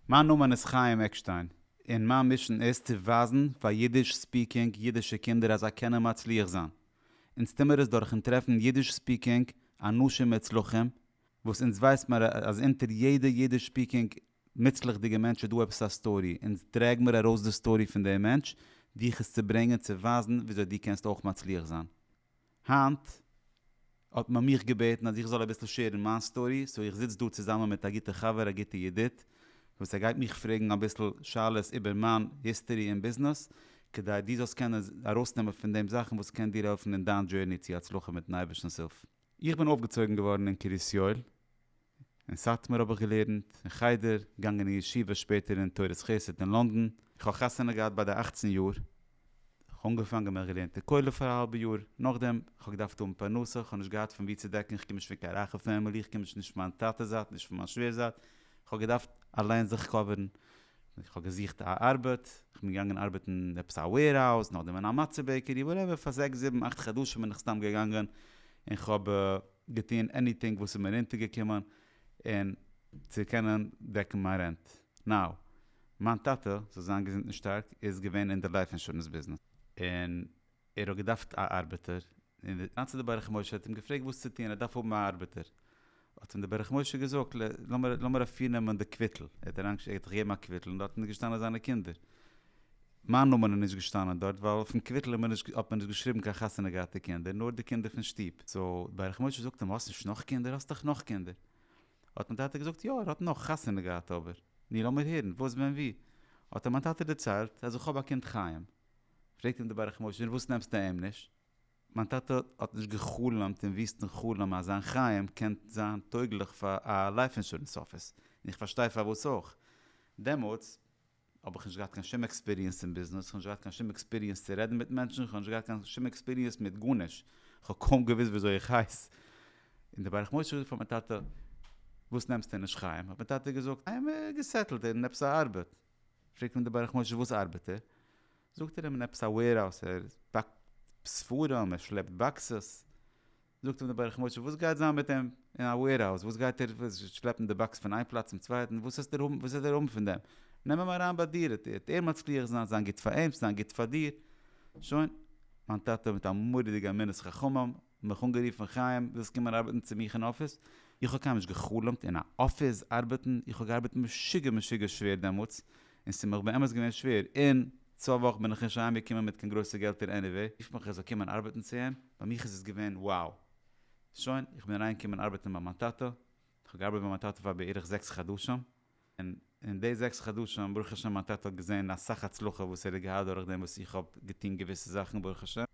מיין נאמען איז חיים עקשטיין, און מיין מישען איז צו ווייזן פאר אידיש ספיקינג אידישע קינדער אז זיי קענען מצליח זיין. אונז טוהן מיר עס דורכן טרעפן אידיש ספיקינג אנשים מוצלחים, וואס אונז ווייסט מיר אז אונטער יעדע אידיש ספיקינג מוצלח'דיגע מענטש איז דא עפעס א סטארי, אונז טרעג מיר ארויס די סטארי פון דעם מענטש, דיך עס צו ברענגען צו ווייזן וויאזוי דו קענסט אויך מצליח זיין. היינט האט מען מיך געבעטן אז איך זאל אביסל שעירן מיין סטארי, סאו איך זיץ דא צוזאמען מיט א גוטע חבר א גוטע ידיד, וואס ער גייט מיך פרעגן אביסל שאלות איבער מיין היסטארי אין ביזנעס, כדי דו זאלסט קענען ארויסנעמען פון דעם זאכן וואס קען דיר העלפן אין דיין דזשערני צו הצלחה מיטן אייבערשטנ'ס הילף. איך בין אויפגעצויגן געווארן אין קרית יואל, אין סאטמאר האב איך געלערנט אין חדר, געגאנגען אין ישיבה שפעטער אין תורת חסד אין לונדון. איך האב חתונה געהאט ביי די אַכצן יאר. איך אנגעפאנגען מיך געלערנט אין כולל פאר א האלבע יאר. נאכדעם איך האב געדארפט האבן פרנסה, איך האב נישט געהאט פון ווי צו דעקן, איך קום נישט פון קיין רייכע פעמילי, איך קום נישט נישט פון מיין טאטע זייט נישט פון מיין שווער זייט, איך האב געדארפט אליין זיך קאווערן. איך האב געזוכט א ארבעט, איך בין געגאנגען ארבעטן אין עפעס א וועירהאוז, נאכדעם אין א מצה בעקערי, וואטעווער, פאר זעקס זיבן אכט חדשים בין איך סתם געגאנגען, און כ'האב. געטון עניטינג וואס איז מיר אונטער געקומען און צו קענען דעקן מיין רענט. נאו. מיין טאטע, זאל זיין געזונט און שטארק, איז געווען אין די לייף אינשורענס ביזנעס. און ער האט געדארפט א ארבעטער. און די אנצי די ברך משה האט אים געפרעגט וואס צו טון ער דארף האבן א ארבעטער. האט אים די ברך משה געזאגט לאמיר אפירנעמען די קוויטל. ער האט אריינגעשיקט ער געט דיך געבן א קוויטל און דארטן איז געשטאנען זיינע קינדער. מיין נאמען איז נישט געשטאנען דארט ווייל אויפן קוויטל האט מען נישט געשריבן קיין חתונה געהאטע קינדער נאר די קינדער פון שטוב, סא ברך משה זאגט אים האסט נישט נאך קינדער האסט דאך נאך קינדער האט מיין טאטע געזאגט יא ער האט נאך חתונה געהאט אבער ני לאמיר הערן וואס ווען ווי האט אים מיין טאטע דערציילט אז איך האב א קינד חיים פרעגט אים דער ברך משה און וואס נעמסטו אים נישט? מיין טאטע האט נישט געחלומט אין וויסטן חלום אז זיין חיים קען זיין טויגליך פאר א לייף אינשורענס אפיס און איך פארשטיי פארוואס אויך דעמאלטס. האב איך נישט געהאט קיין שום עקספיריענס אין ביזנעס, איך האב נישט געהאט קיין שום עקספיריענס צו רעדן מיט מענטשן, איך האב נישט געהאט קיין שום עקספיריענס מיט גארנישט, איך האב קוים געוואוסט וויאזוי איך הייס, און דער ברך משה האט געזאגט פאר מיין טאטע, וואס נעמסטו נישט חיים? האט מיין טאטע געזאגט, איי אים געסעטלט אין עפעס א ארבעט, פרעגט אים דער ברך משה וואס ארבעט ער? זאגט ער אים אין עפעס א וועירהאוז, ער פאקט ספרים, ער שלעפט באקסעס. זאגט אים דער ברך משה וואס גייט זיין מיט אים אין א וועירהאוז, וואס גייט ער שלעפן די באקס פון איין פלאץ צום צווייטן, וואס האסט דער האבן וואס וועט ער האבן פון דעם, נעם אים אריין ביי דיר, עט וועט ער מצליח זיין, זיין גוט פאר אים, זיין גוט פאר דיר, שוין, מיין טאטע מיט א מורא'דיגע אמינות חכמים, מיך אנגערופן חיים ווילסט קומען ארבעטן צו מיך אין אפיס, איך האב קיינמאל נישט געחלומט אין א אפיס ארבעטן, איך האב געארבעט משוגע משוגע שווער דעמאלטס, און ס'מיך באמת געווען שווער, און צוויי וואך בין איך נישט אהיים געקומען מיט קיין גרויסע געלטער עניוועי, רופט מיך ער זאל קומען ארבעטן צו אים, ביי מיך איז עס געווען wow! שוין, איך בין אריין געקומען ארבעטן ביי מיין טאטע, איך האב געארבעט ביי מיין טאטע פאר בערך זעקס חדשים, און אין די זעקס חדשים ברוך השם מיין טאטע האט געזען אסאך הצלחה וואס ער האט געהאט דורך דעם וואס איך האב געטון געוויסע זאכן ברוך השם,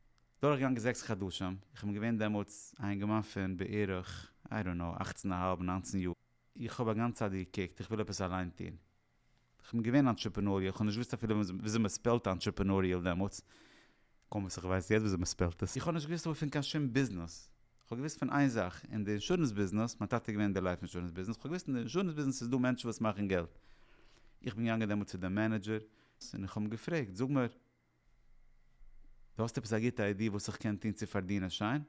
דורך געגאנגען זעקס חדשים, איך בין געווען דעמאלטס א אינגערמאן פון בערך איי דאנט נאו אַכצן אהאלב נײַנצן יאר, איך האב א גאנצע צייט געקוקט איך וויל עפעס אליין טון, כ'בין געווען אנטשעפענאריעל, כ'האב נישט געוואוסט אפילו וויאזוי מ'ספעלט אנטשעפענאריעל דעמאלטס, קוים וואס איך ווייס יעצט וויאזוי מ'ספעלט עס. איך האב נישט געוואוסט אבער פון קיין שום ביזנעס, כ'האב געוואוסט פון איין זאך, אין די אינשורענס ביזנעס, מיין טאטע איז געווען אין די לייף אינשורענס ביזנעס, כ'האב געוואוסט אין די אינשורענס ביזנעס איז דא מענטשן וואס מאכן געלט. איך בין געגאנגען דעמאלטס צו די מענעדזשער, און איך האב אים געפרעגט, זאג מיר, דו האסט עפעס א גוטע איידיע וואס איך קען טון צו פארדינען שיין?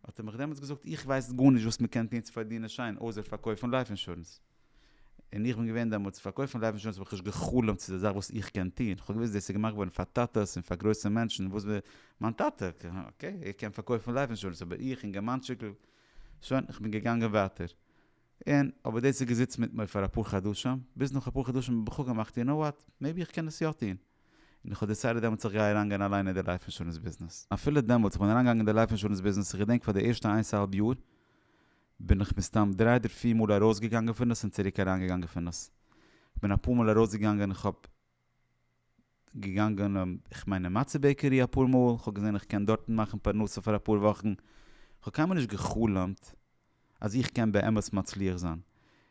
האט ער מיך דעמאלטס געזאגט, איך ווייס גארנישט וואס מען קען טון צו פארדינען שיין אויסער פארקויפן לייף אינשורענס. און איך בין געווען דעמאלטס, פארקויפן לייף אינשורענס האב איך נישט גע'חלומ'ט ס'איז א זאך וואס איך קען טון, כ'האב געוואוסט דאס איז געמאכט געווארן פאר טאטעס און פאר גרויסע מענטשן, וואס וועט מיין טאטע, אקעי, ער קען פארקויפן לייף אינשורענס, אבער איך אינגערמאנטשיקל, שוין, כ'בין געגאנגען ווייטער. און אבער דאס איז געזיצן מיט מיר פאר אפאר חדשים, ביז נאך אפאר חדשים האב איך אפגעמאכט יו נאו וואט, מעיבי איך קען עס יא טון. און איך האב דעסיידעד דעמאלטס איך גיי אריינגיין אליין אין די לייף אינשורענס ביזנעס. אפילו דעמאלטס איך בין אריינגעגאנגען אין די לייף אינשורענס ביזנעס, איך געדענק פאר די ערשטע איינס אהאלב יאר בין איך מסתם דריי אדער פיר מאל ארויסגעגאנגען פון דאס און צוריק אריינגעגאנגען פון דאס. איך בין אפאר מאל ארויסגעגאנגען, איך האב געגאנגען איך מיין אין מצה בעקערי אפאר מאל, כ'האב געזען איך קען דארטן מאכן פרנסה פאר אפאר וואכן, כ'האב קיינמאל נישט גע'חלומ'ט אז איך קען באמת מצליח זיין,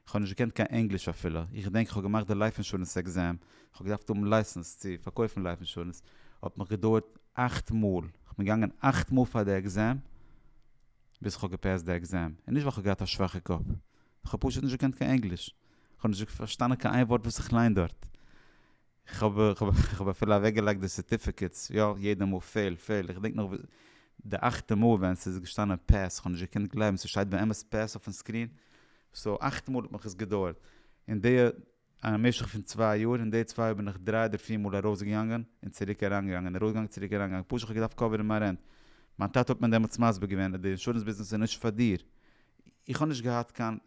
כ'האב נישט געקענט קיין ענגליש אפילו, איך געדענק כ'האב געמאכט די לייף אינשורענס עקזעם, כ'האב געדארפט האבן לייסענס צו פארקויפן לייף אינשורענס, האט מיך געדויערט אכט מאל, כ'בין געגאנגען אכט מאל פאר די עקזעם, ביז כ'האב געפעסט די עקזעם, און נישט ווייל כ'האב געהאט א שוואכע קאפ, כ'האב פשוט נישט געקענט קיין ענגליש, כ'האב נישט פארשטאנען קיין איין ווארט וואס איך ליין דארט. כ'האב אפילו אוועקגעלייגט די סערטיפיקעטס, יא, יעדע מאל פעל, פעל, איך געדענק נאך די אכטע מאל ווען ס'איז געשטאנען פעס, כ'האב נישט געקענט גלייבן, ס'שטייט באמת פעס אויפן סקרין, סאו אכט מאל האט מיך עס געדויערט, אין די משך פון צוויי יאר, אין די צוויי יאר בין איך דריי אדער פיר מאל ארויסגעגאנגען און צוריק אריינגעגאנגען, ארויסגעגאנגען צוריק אריינגעגאנגען, פשוט כ'האב געדארפט קאווערן מיין רענט, מיין טאטע האט מיר דעמאלטס מסביר געווען אז די אינשורענס ביזנעס איז נישט פאר דיר, איך האב נישט געהאט קיין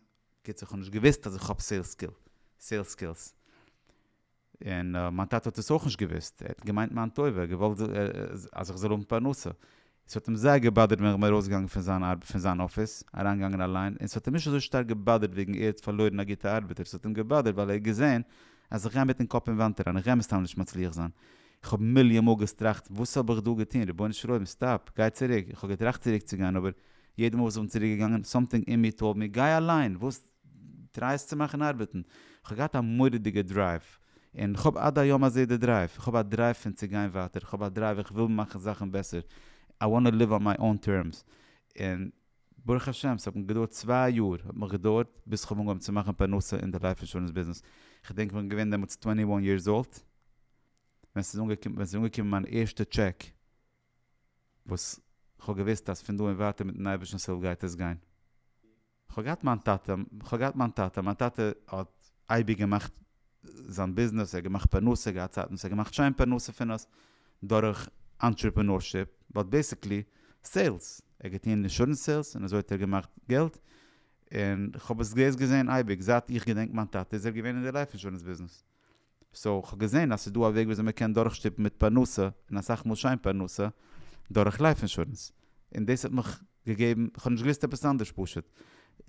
בקיצור כ'האב נישט געוויסט אז איך האב סעילס סקילס, און מיין טאטע האט עס אויך נישט געוויסט, ער האט געמיינט מיין טובה, געוואלט אז איך זאל האבן פרנסה, עס האט אים זייער געבאדערט ווען איך בין ארויסגעגאנגען פון זיין אפיס, אריינגעגאנגען אליין, און עס האט אים נישט אזוי שטארק געבאדערט וועגן ער האט פארלוירן א גוטע ארבעטער, עס האט אים געבאדערט ווייל ער האט געזען אז איך גיי מיטן קאפ אין וואנט אריין, איך גיי מסתם נישט מצליח זיין, כ'האב מיליאן מאל געסטראכט וואס האב איך דא געטון, רבונו של עולם סטאפ, גיי צוריק, איך האב געטראכט צוריק צו גיין אבער יעדע מאל וואס איך בין צוריק געגאנגען סאמטינג אין מיר טאלד מיר גיי אליין, וואס טריי עס צו מאכן ארבעטן, כ'האב געהאט א מורא'דיגע דרייוו, און כ'האב עד היום הזה די דרייוו, כ'האב א דרייוו פון צו גיין ווייטער, כ'האב א דרייוו איך וויל מאכן זאכן בעסער, איי וואנט ליוו אן מיי אן טערמס, און ברוך השם ס'האט מיר געדויערט צוויי יאר האט מיך געדויערט ביז כ'האב אנגעהויבן צו מאכן פרנסה אין די לייף אינשורענס ביזנעס, כ'דענק כ'בין געווען דעמאלטס טווענטי וואן יערס אולט, ווען ס'איז אנגעקומען ווען ס'איז אנגעקומען מיין ערשטע טשעק, וואס כ'האב געוואוסט אז פון דא און ווייטער מיט'ן אייבערשטנ'ס הילף גייט עס גיין. כ'האב געהאט מיין טאטע, כ'האב געהאט מיין טאטע, מיין טאטע האט אייביג געמאכט זיין ביזנעס, ער האט געמאכט פרנסה, ער האט געהאט צייטן וואס ער האט געמאכט שיין פרנסה פון עס, דורך אנטרעפענארשיפ, באט בעסיקלי סעילס, ער האט געטון אינשורענס סעילס און אזוי האט ער געמאכט געלט, און כ'האב עס דאס געזען אייביג, זייט איך געדענק מיין טאטע איז ער געווען אין די לייף אינשורענס ביזנעס. סאו כ'האב געזען אז ס'איז דא א וועג וויאזוי מ'קען דורכשטופן מיט פרנסה, און אסאך מאל שיין פרנסה, דורך לייף אינשורענס. און דאס האט מיך געגעבן, כ'האב נישט געוואוסט עפעס אנדערש פשוט.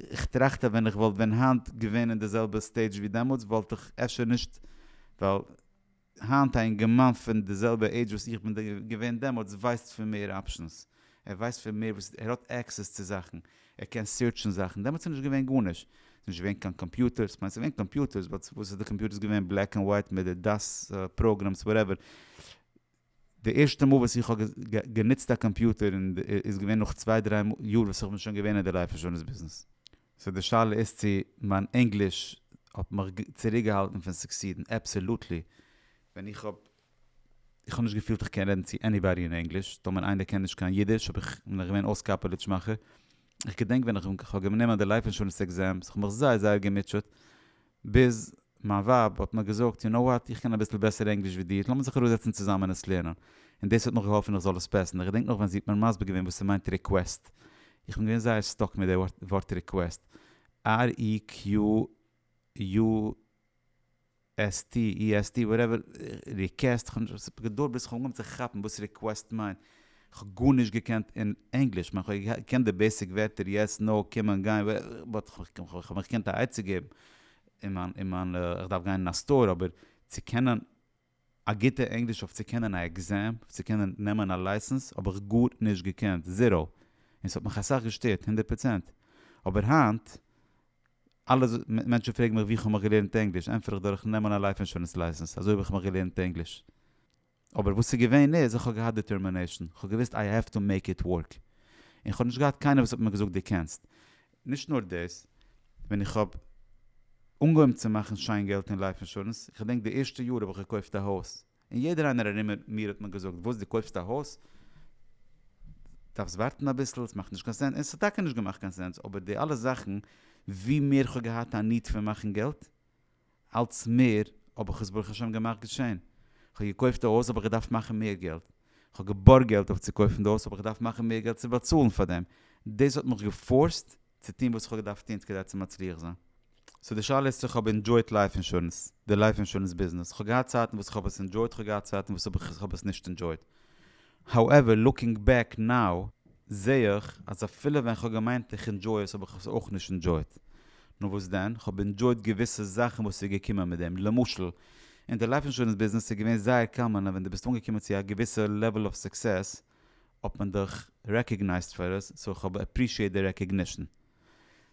כ'טראכט אז ווען איך וואלט ווען היינט געווען אין די זעלבע סטעידזש ווי דעמאלטס וואלט איך אפשר נישט, ווייל היינט א אינגערמאן פון די זעלבע עידזש וואס איך בין געווען דעמאלטס ווייסט פון מער אפשענס, ער ווייסט פון מער וואס, ער האט עקסעס צו זאכן, ער קען סירטשן זאכן, דעמאלטס איז נישט געווען גארנישט, ס'איז נישט געווען קיין קאמפיוטערס, כ'מיין ס'איז געווען קאמפיוטערס באט וואס איז די קאמפיוטערס געווען בלעק ענד ווייט מיט די דאס פראגרעמס וואטעווער, די ערשטע מאל וואס איך האב גענוצט א קאמפיוטער און איז געווען נאך צוויי דריי יאר וואס איך בין שוין געווען אין די לייף אינשורענס ביזנעס. סאו די שאלה איז צו מיין ענגליש האט מיך צוריקגעהאלטן פון סוקסידן? אבסעלוטלי, ווען איך האב איך האב נישט געפילט איך קען רעדן צו עניבאדי אין ענגליש, טאמער איינער קען נישט קיין אידיש האב איך בין איך געווען אויסקאפעליטש מאכער, איך געדענק ווען איך האב גענומען די לייף אינשורענס עקזעמס איך האב מיך זייער זייער געמוטשעט, ביז מיין ווייב האט מיר געזאגט יו נאו וואט איך קען אביסל בעסער ענגליש ווי דיר לאמיר זיך אראפזעצן צוזאמען און עס לערנען, און דאס האט נאך געהאלפן איך זאל עס פעסן, איך געדענק נאך ווען זי האט מיר מסביר געווען וואס ס'מיינט ריקוועסט, איך בין געווען זייער סטאק מיט די ווארט ריקוועסט, ר אי קיו יו. עס טי אי עס טי וואטעווער ריקעסט, כ'האב נישט געדולד ביז כ'האב אנגעהויבן צו כאפן וואס ריקוועסט מיינט, כ'האב גארנישט געקענט אין ענגליש, כ'מיין כ'האב געקענט די בעיסיק ווערטער יעס נאו קומען גיין באט כ'האב מיך געקענט א עצה געבן אין מיין איך דארף גיין אין א סטאר אבער צו קענען א גוטע ענגליש אויף צו קענען א עקזעם אויף צו קענען נעמען א לייסענס האב איך גארנישט געקענט זיראו און ס'האט מיך אסאך געשטערט הונדערט פראצענט אבער היינט אלע מענטשן פרעגן מיך ווי כ'האב געלערנט ענגליש, ענטפער איך דורכן נעמען א לייף אינשורענס לייסענס, אזוי האב איך מיך געלערנט ענגליש. אבער וואס איז געווען איז, איך האב געהאט דיטערמינעישאן, כ'האב געוואוסט איי העוו טו מעיק איט ווארק, און כ'האב נישט געהאט קיינער וואס האט מיר געזאגט דו קענסט. נישט נאר דאס, ווען איך האב אנגעהויבן צו מאכן שיין געלט אין לייף אינשורענס, כ'דענק די ערשטע יאר האב איך געקויפט א הויז, און יעדער איינער ארום מיר האט מיר געזאגט וואס דו קויפסט א הויז? דארפסט ווארטן אביסל, ס'מאכט נישט קיין סענס, און ס'האט טאקע נישט געמאכט קיין סענס, אבער די אלע זאכן, ווי מער כ'האב געהאט א ניד פון מאכן געלט, אלץ מער האב איך עס ברוך השם געמאכט געשען, כ'האב געקויפט א הויז האב איך געדארפט מאכן מער געלט, כ'האב געבארגט געלט אויף צו קויפן די הויז האב איך געדארפט מאכן מער געלט צו באצאלן פאר דעם, דאס האט מיך געפארסט צו טון וואס איך האב געדארפט טון כדי צו מצליח זיין. סאו די שאלה איז צו איך האב אינדזשויט לייף אינשורענס, די לייף אינשורענס ביזנעס. איך האב געהאט צייטן וואס איך האב עס אינדזשויט, איך האב געהאט צייטן וואס איך האב עס נישט אינדזשויט. האועווער, לוקינג בעק נאו, זעה איך אז אפילו ווען איך האב געמיינט איך אינדזשוי עס האב איך עס אויך נישט אינדזשויט. נו וואס דען? איך האב אינדזשויט געוויסע זאכן וואס איז געקומען מיט דעם. למשל, אין די לייף אינשורענס ביזנעס איז געווען זייער קאמאן אז ווען דו ביסט אנגעקומען צו א געוויסע לעוועל אוו סוקסעס, האט מען דיך רעקאגנייזט פאר עס, סאו כ'האב עפרישיעט די רעקאגנישן.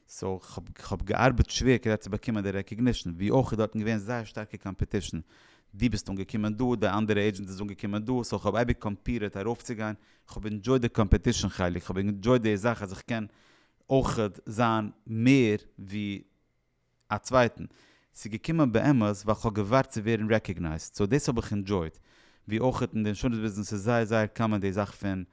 סאו כ'האב געארבעט שווער כדי צו באקומען די רעקאגנישן, ווי אויך איז דארטן געווען זייער שטארקע קאמפעטישן, דו ביסט אנגעקומען דא, די אנדערע עידזשענט איז אנגעקומען דא, סאו כ'האב אייביג קאמפירעט ארויפצוגיין, כ'האב אינדזשויט די קאמפעטישן חלק, כ'האב אינדזשויט די זאך אז איך קען אויך זיין מער ווי. א צווייטן, ס'איז געקומען באמת ווייל כ'האב געווארט צו ווערן רעקאגנייזד, סאו דאס האב איך אינדזשויט, ווי אויך אין די אינשורענס ביזנעס איז זייער זייער קאמאן די זאך פון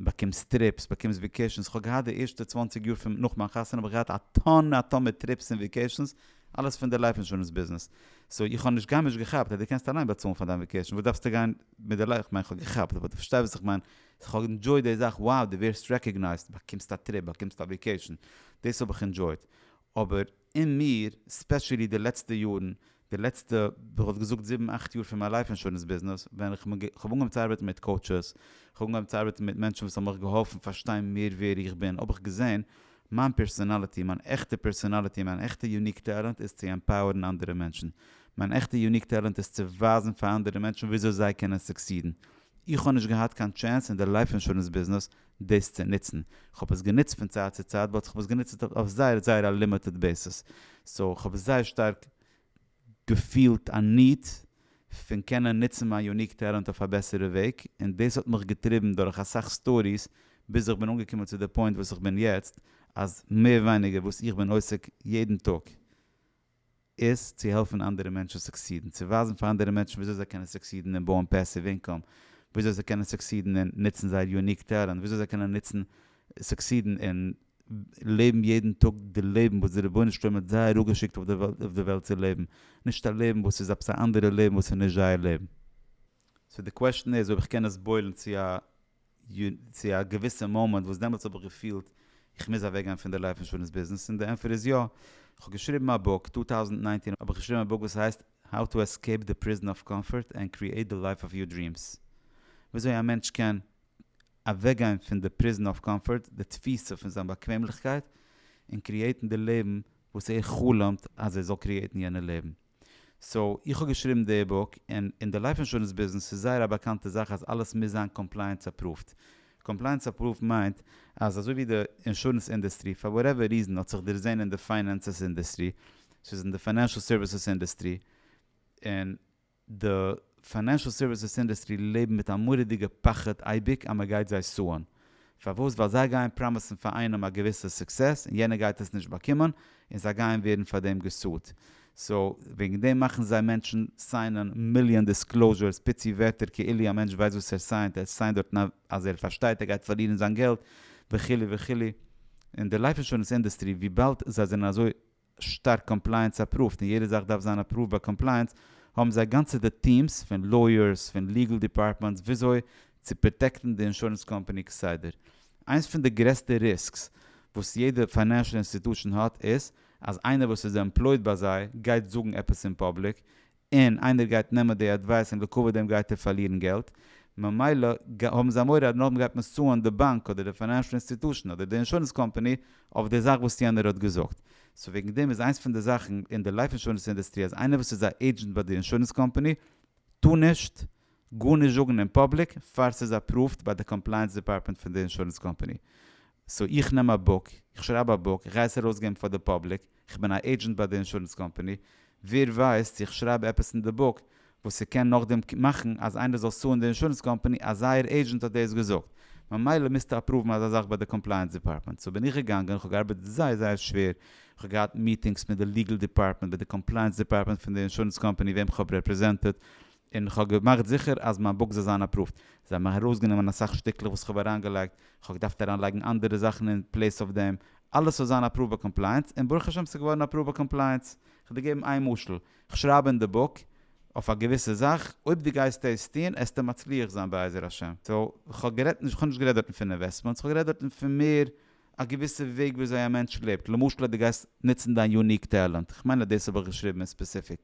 באקומסט טריפס, באקומסט וועקעישאנס, כ'האב געהאט די ערשטע צוואַנציק יאר פון נאך מיין חתונה האב איך געהאט א טאן א טאן מיט טריפס און וועקעישאנס, אלעס פון די לייף אינשורענס ביזנעס, סאו איך האב נישט גארנישט געכאפט אז דו קענסט אליין באצאלן פאר דיין וועקעישאן, וואס דארפסטו גיין מיט די לייף, כ'מיין כ'האב געכאפט אבער דו פארשטייסט וואס איך מיין, סאו כ'האב אינדזשויט די זאך, wow דו ווערסט רעקאגנייזד, באקומסט א טריפ, באקומסט א וועקעישאן, דאס האב איך אינדזשויט, אבער אין מיר, ספעשעלי די לעצטע יארן, די לעצטע כ'וואלט געזאגט זיבן אכט יאר פון מיין לייף אינשורענס ביזנעס, ווען איך האב אנגעהויבן צו ארבעטן מיט קאוטשעס, איך האב אנגעהויבן צו ארבעטן מיט מענטשן וואס האבן מיך געהאלפן פארשטיין מער ווער איך בין, האב איך געזען, מיין פערסאנאליטי, מיין עכטע פערסאנאליטי, מיין עכטע יוניק טעלענט איז צו עמפאוערן אנדערע מענטשן. מיין עכטע יוניק טעלענט איז צו ווייזן פאר אנדערע מענטשן וויאזוי זיי קענען סוקסידן. איך האב נישט געהאט קיין טשענס אין די לייף אינשורענס ביזנעס דאס צו נוצן, כ'האב עס גענוצט פון צייט צו צייט באט כ'האב עס גענוצט אויף זייער זייער א לימיטעד בעיסעס, סאו כ'האב זייער שטארק געפילט א ניד פון קענען נוצן מיין יוניק טעלענט אויף א בעסערע וועג, און דאס האט מיך געטריבן דורך אסאך סטאדיס ביז איך בין אנגעקומען צו די פוינט וואס איך בין יעצט, אז מער ווייניגער וואס איך בין עוסק יעדן טאג. איז צו העלפן אנדערע מענטשן סוקסידן, צו ווייזן פאר אנדערע מענטשן וויאזוי זיי קענען סוקסידן אין בויען פעסיוו אינקאם, וויאזוי זיי קענען סוקסידן אין נוצן זייער יוניק טעלענט, וויאזוי זיי קענען נוצן סוקסידן אין לעבן יעדן טאג די לעבן וואס די רבונו של עולם האט זיי אראפגעשיקט אויף די וועלט צו לעבן, נישט א לעבן וואס איז עפעס א אנדערע לעבן וואס איז נישט זייער לעבן. סאו די קוועשן איז אויב איך קען עס בוילן צו א צו א געוויסע מאמענט וואס דעמאלטס האב איך געפילט איך מוז אוועק גיין פון די לייף אינשורענס ביזנעס און די ענפער איז יא. איך האב געשריבן א בוק, טו טאוזנט ניינצן האב איך געשריבן א בוק וואס הייסט How to Escape the Prison of Comfort and Create the Life of Your Dreams. וויאזוי א מענטש קען אוועק גיין פון די Prison of Comfort, די תפיסה פון זיין באקוועמליכקייט, און קריעטן די לעבן וואס ער חלומ'ט אז ער זאל קריעטן יענע לעבן. סאו איך האב געשריבן די בוק, און אין די לייף אינשורענס ביזנעס איז זייער א באקאנטע זאך אז אלעס מוז זיין קאמפלייענס אפראווד. קאמפלייענס אפראווד מיינט אז אזוי ווי די אינשורענס אינדעסטרי פאר וואטעווער ריזען האט זיך דערזעהן אין די פיינענסעס אינדעסטרי, ס'איז אין די פיינענשעל סערוויסעס אינדעסטרי, און די. פיינענשעל סערוויסעס אינדוסטרי לעבן מיט א מורא'דיגע פחד אייביג אז מען גייט זיי סוען. פארוואס? ווייל זיי גייען פראמיסן פאר איינעם א געוויסע סוקסעס און יענער גייט עס נישט באקומען און זיי גייען ווערן פאר דעם געסועט. סאו וועגן דעם מאכן זיי מענטשן סיינען מיליאן דיסקלאוזשערס פיצי ווערטער כאילו א מענטש ווייסט וואס ער סיינט, ער סיינט דארטן אז ער פארשטייט ער גייט פארלירן זיין געלט וכו' וכו'. און די לייף אינשורענס אינדוסטרי וויבאלד זיי זענען אזוי. שטארק קאמפלייענס אפראווט און יעדע זאך דארף זיין אפראווט ביי קאמפלייענס, האבן זיי גאנצעטע טיעמס פון לויערס פון ליגעל דיפארטמענטס וויאזוי צו פראטעקטן די אינשורענס קאמפאני כסדר. איינס פון די גרעסטע ריסקס וואס יעדע פיינענשעל אינסטיטושען האט איז אז איינער וואס איז עמפלויד ביי זיי גייט זאגן עפעס אין פאבליק און איינער גייט נעמען די עדווייס און לעקווע דעם גייט ער פארלירן געלט, ממילא האבן זיי מורא אז נאכדעם גייט מען סוען די באנק אדער די פיינענשל אינסטיטושען אדער די אינשורענס קאמפאני אויף די זאך וואס יענער האט געזאגט. סאו וועגן דעם איז איינס פון די זאכן אין די לייף אינשורענס אינדעסטרי אז איינער וואס איז א עידזשענט ביי די אינשורענס קאמפאני טאר נישט גארנישט זאגן אין פאבליק פאר ס'איז אפראווד ביי די קאמפלייענס דיפארטמענט פון די אינשורענס קאמפאני. סאו איך נעם א בוק, איך שרייב א בוק, איך גיי עס ארויסגעבן פאר די פאבליק, איך בין א עידזשענט ביי די אינשורענס קאמפאני, ווער ווייסט צו איך שרייב עפעס אין די בוק וואס ס'קען נאכדעם מאכן אז איינער זאל סוען די אינשורענס קאמפאני אז זייער עידזשענט האט דאס געזאגט. ממילא מוזטו אפראוון אזא זאך ביי די קאמפלייענס דיפארטמענט. סאו בין איך געגאנגען, איך האב געארבעט זייער זייער שווער, איך האב געהאט מיטינגס מיט די ליגעל דיפארטמענט, מיט די קאמפלייענס דיפארטמענט פון די אינשורענס קאמפאני וועם כ'האב רעפרעזענטעד, און כ'האב געמאכט זיכער אז מיין בוק זאל זיין אפראווד. זיי האבן ארויסגענומען אסאך שטיקלעך וואס כ'האב אריינגעלייגט, כ'האב געדארפט אריינלייגן אנדערע זאכן אין פלעיס אויף דעם, אלעס זאל זיין אפראווד ביי קאמפלייענס, און ברוך השם ס'איז געווארן אפראווד ביי קאמפלייענס. כ'דיר געבן איין משל, כ'שרייב אין די בוק אויף א געוויסע זאך, אויב דו גייסט עס טון עסטו מצליח זיין בעזר השם. סאו, כ'האב גערעדט נישט, כ'האב נישט גערעדט דארטן פון אינוועסטמענטס, כ'האב גערעדט דארטן פון מער א געוויסע וועג וויאזוי א מענטש לעבט, למשל אז דו גייסט נוצן דיין יוניק טעלענט, כ'מיין אז דאס האב איך געשריבן אין ספעסיפיק,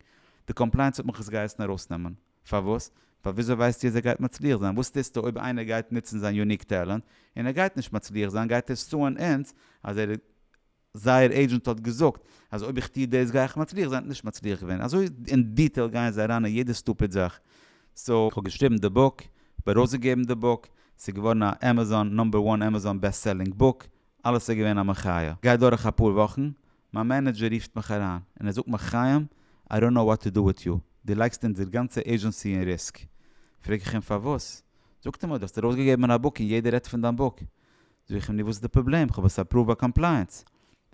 די קאמפלייענס האט מיך עס געהייסן ארויסנעמען, פארוואס? ווייל וויאזוי ווייסטו אז ער גייט מצליח זיין? וואס טוסטו אויב איינער גייט נוצן זיין יוניק טעלענט און ער גייט נישט מצליח זיין, גייט ער סוען אונז אז ער זייער עידזשענט האט געזאגט אז אויב איך טו דאס גיי איך מצליח זיין, נישט מצליח געווען, אזוי אין דיטעיל גייען זיי אריין אין יעדע סטופיד זאך, סאו. כ'האב געשריבן די בוק, כ'האב ארויסגעגעבן די בוק, ס'איז געווארן א עמעזאן נאמבער וואן עמעזאן בעסט סעלינג בוק, אלעס איז געווען א מחיה. גייט דורך אפאר וואכן, מיין מענעדזשער רופט מיך אריין, און ער זאגט מיר חיים, איי דאנט נאו וואט טו דא וויט יו, דו לייגסט אונזער גאנצע עידזשענסי אין ריסק. פרעג איך אים פארוואס? זאגט ער מיר, דו האסט ארויסגעגעבן א בוק און יעדער רעדט פון דיין בוק. זאג איך אים, נו וואס איז די פראבלעם, כ'האב עס אפראווד ביי קאמפלייענס.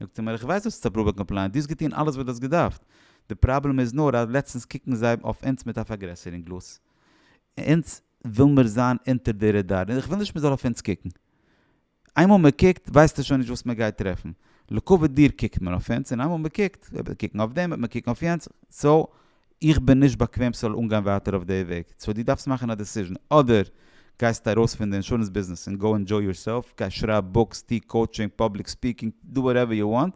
זאגט ער מיר, איך ווייס דו האסט עס אפראווד ביי קאמפלייענס, דו האסט געטון אלעס וואס דו האסט געדארפט, די פראבלעם איז נאר אז לעצטנס קוקן זיי אויף אונז מיט א פארגרעסערונג גלאז, אונז וויל מיר זיין אונטער די רעדאר און איך וויל נישט מ'זאל אויף אונז קוקן. איינמאל מ'קוקט ווייסטו שוין נישט וואס מ'גייט טרעפן. לקובה דיר קוקט מען אויף אונז און איינמאל מ'קוקט, וועט מען קוקן אויף דעם, וועט מען קוקן אויף יענץ, סאו איך בין נישט באקוועם ס'זאל אנגיין ווייטער אויף די וועג. סאו דו דארפסט מאכן א דעסיזשן. אדער גייסטו ארויס פון די אינשורענס ביזנעס און גאו ענדזשוי יורסעלף, גיי שרייב בוקס, טו קאוטשינג, פאבליק ספיקינג, דו וואטעווער יו וואנט,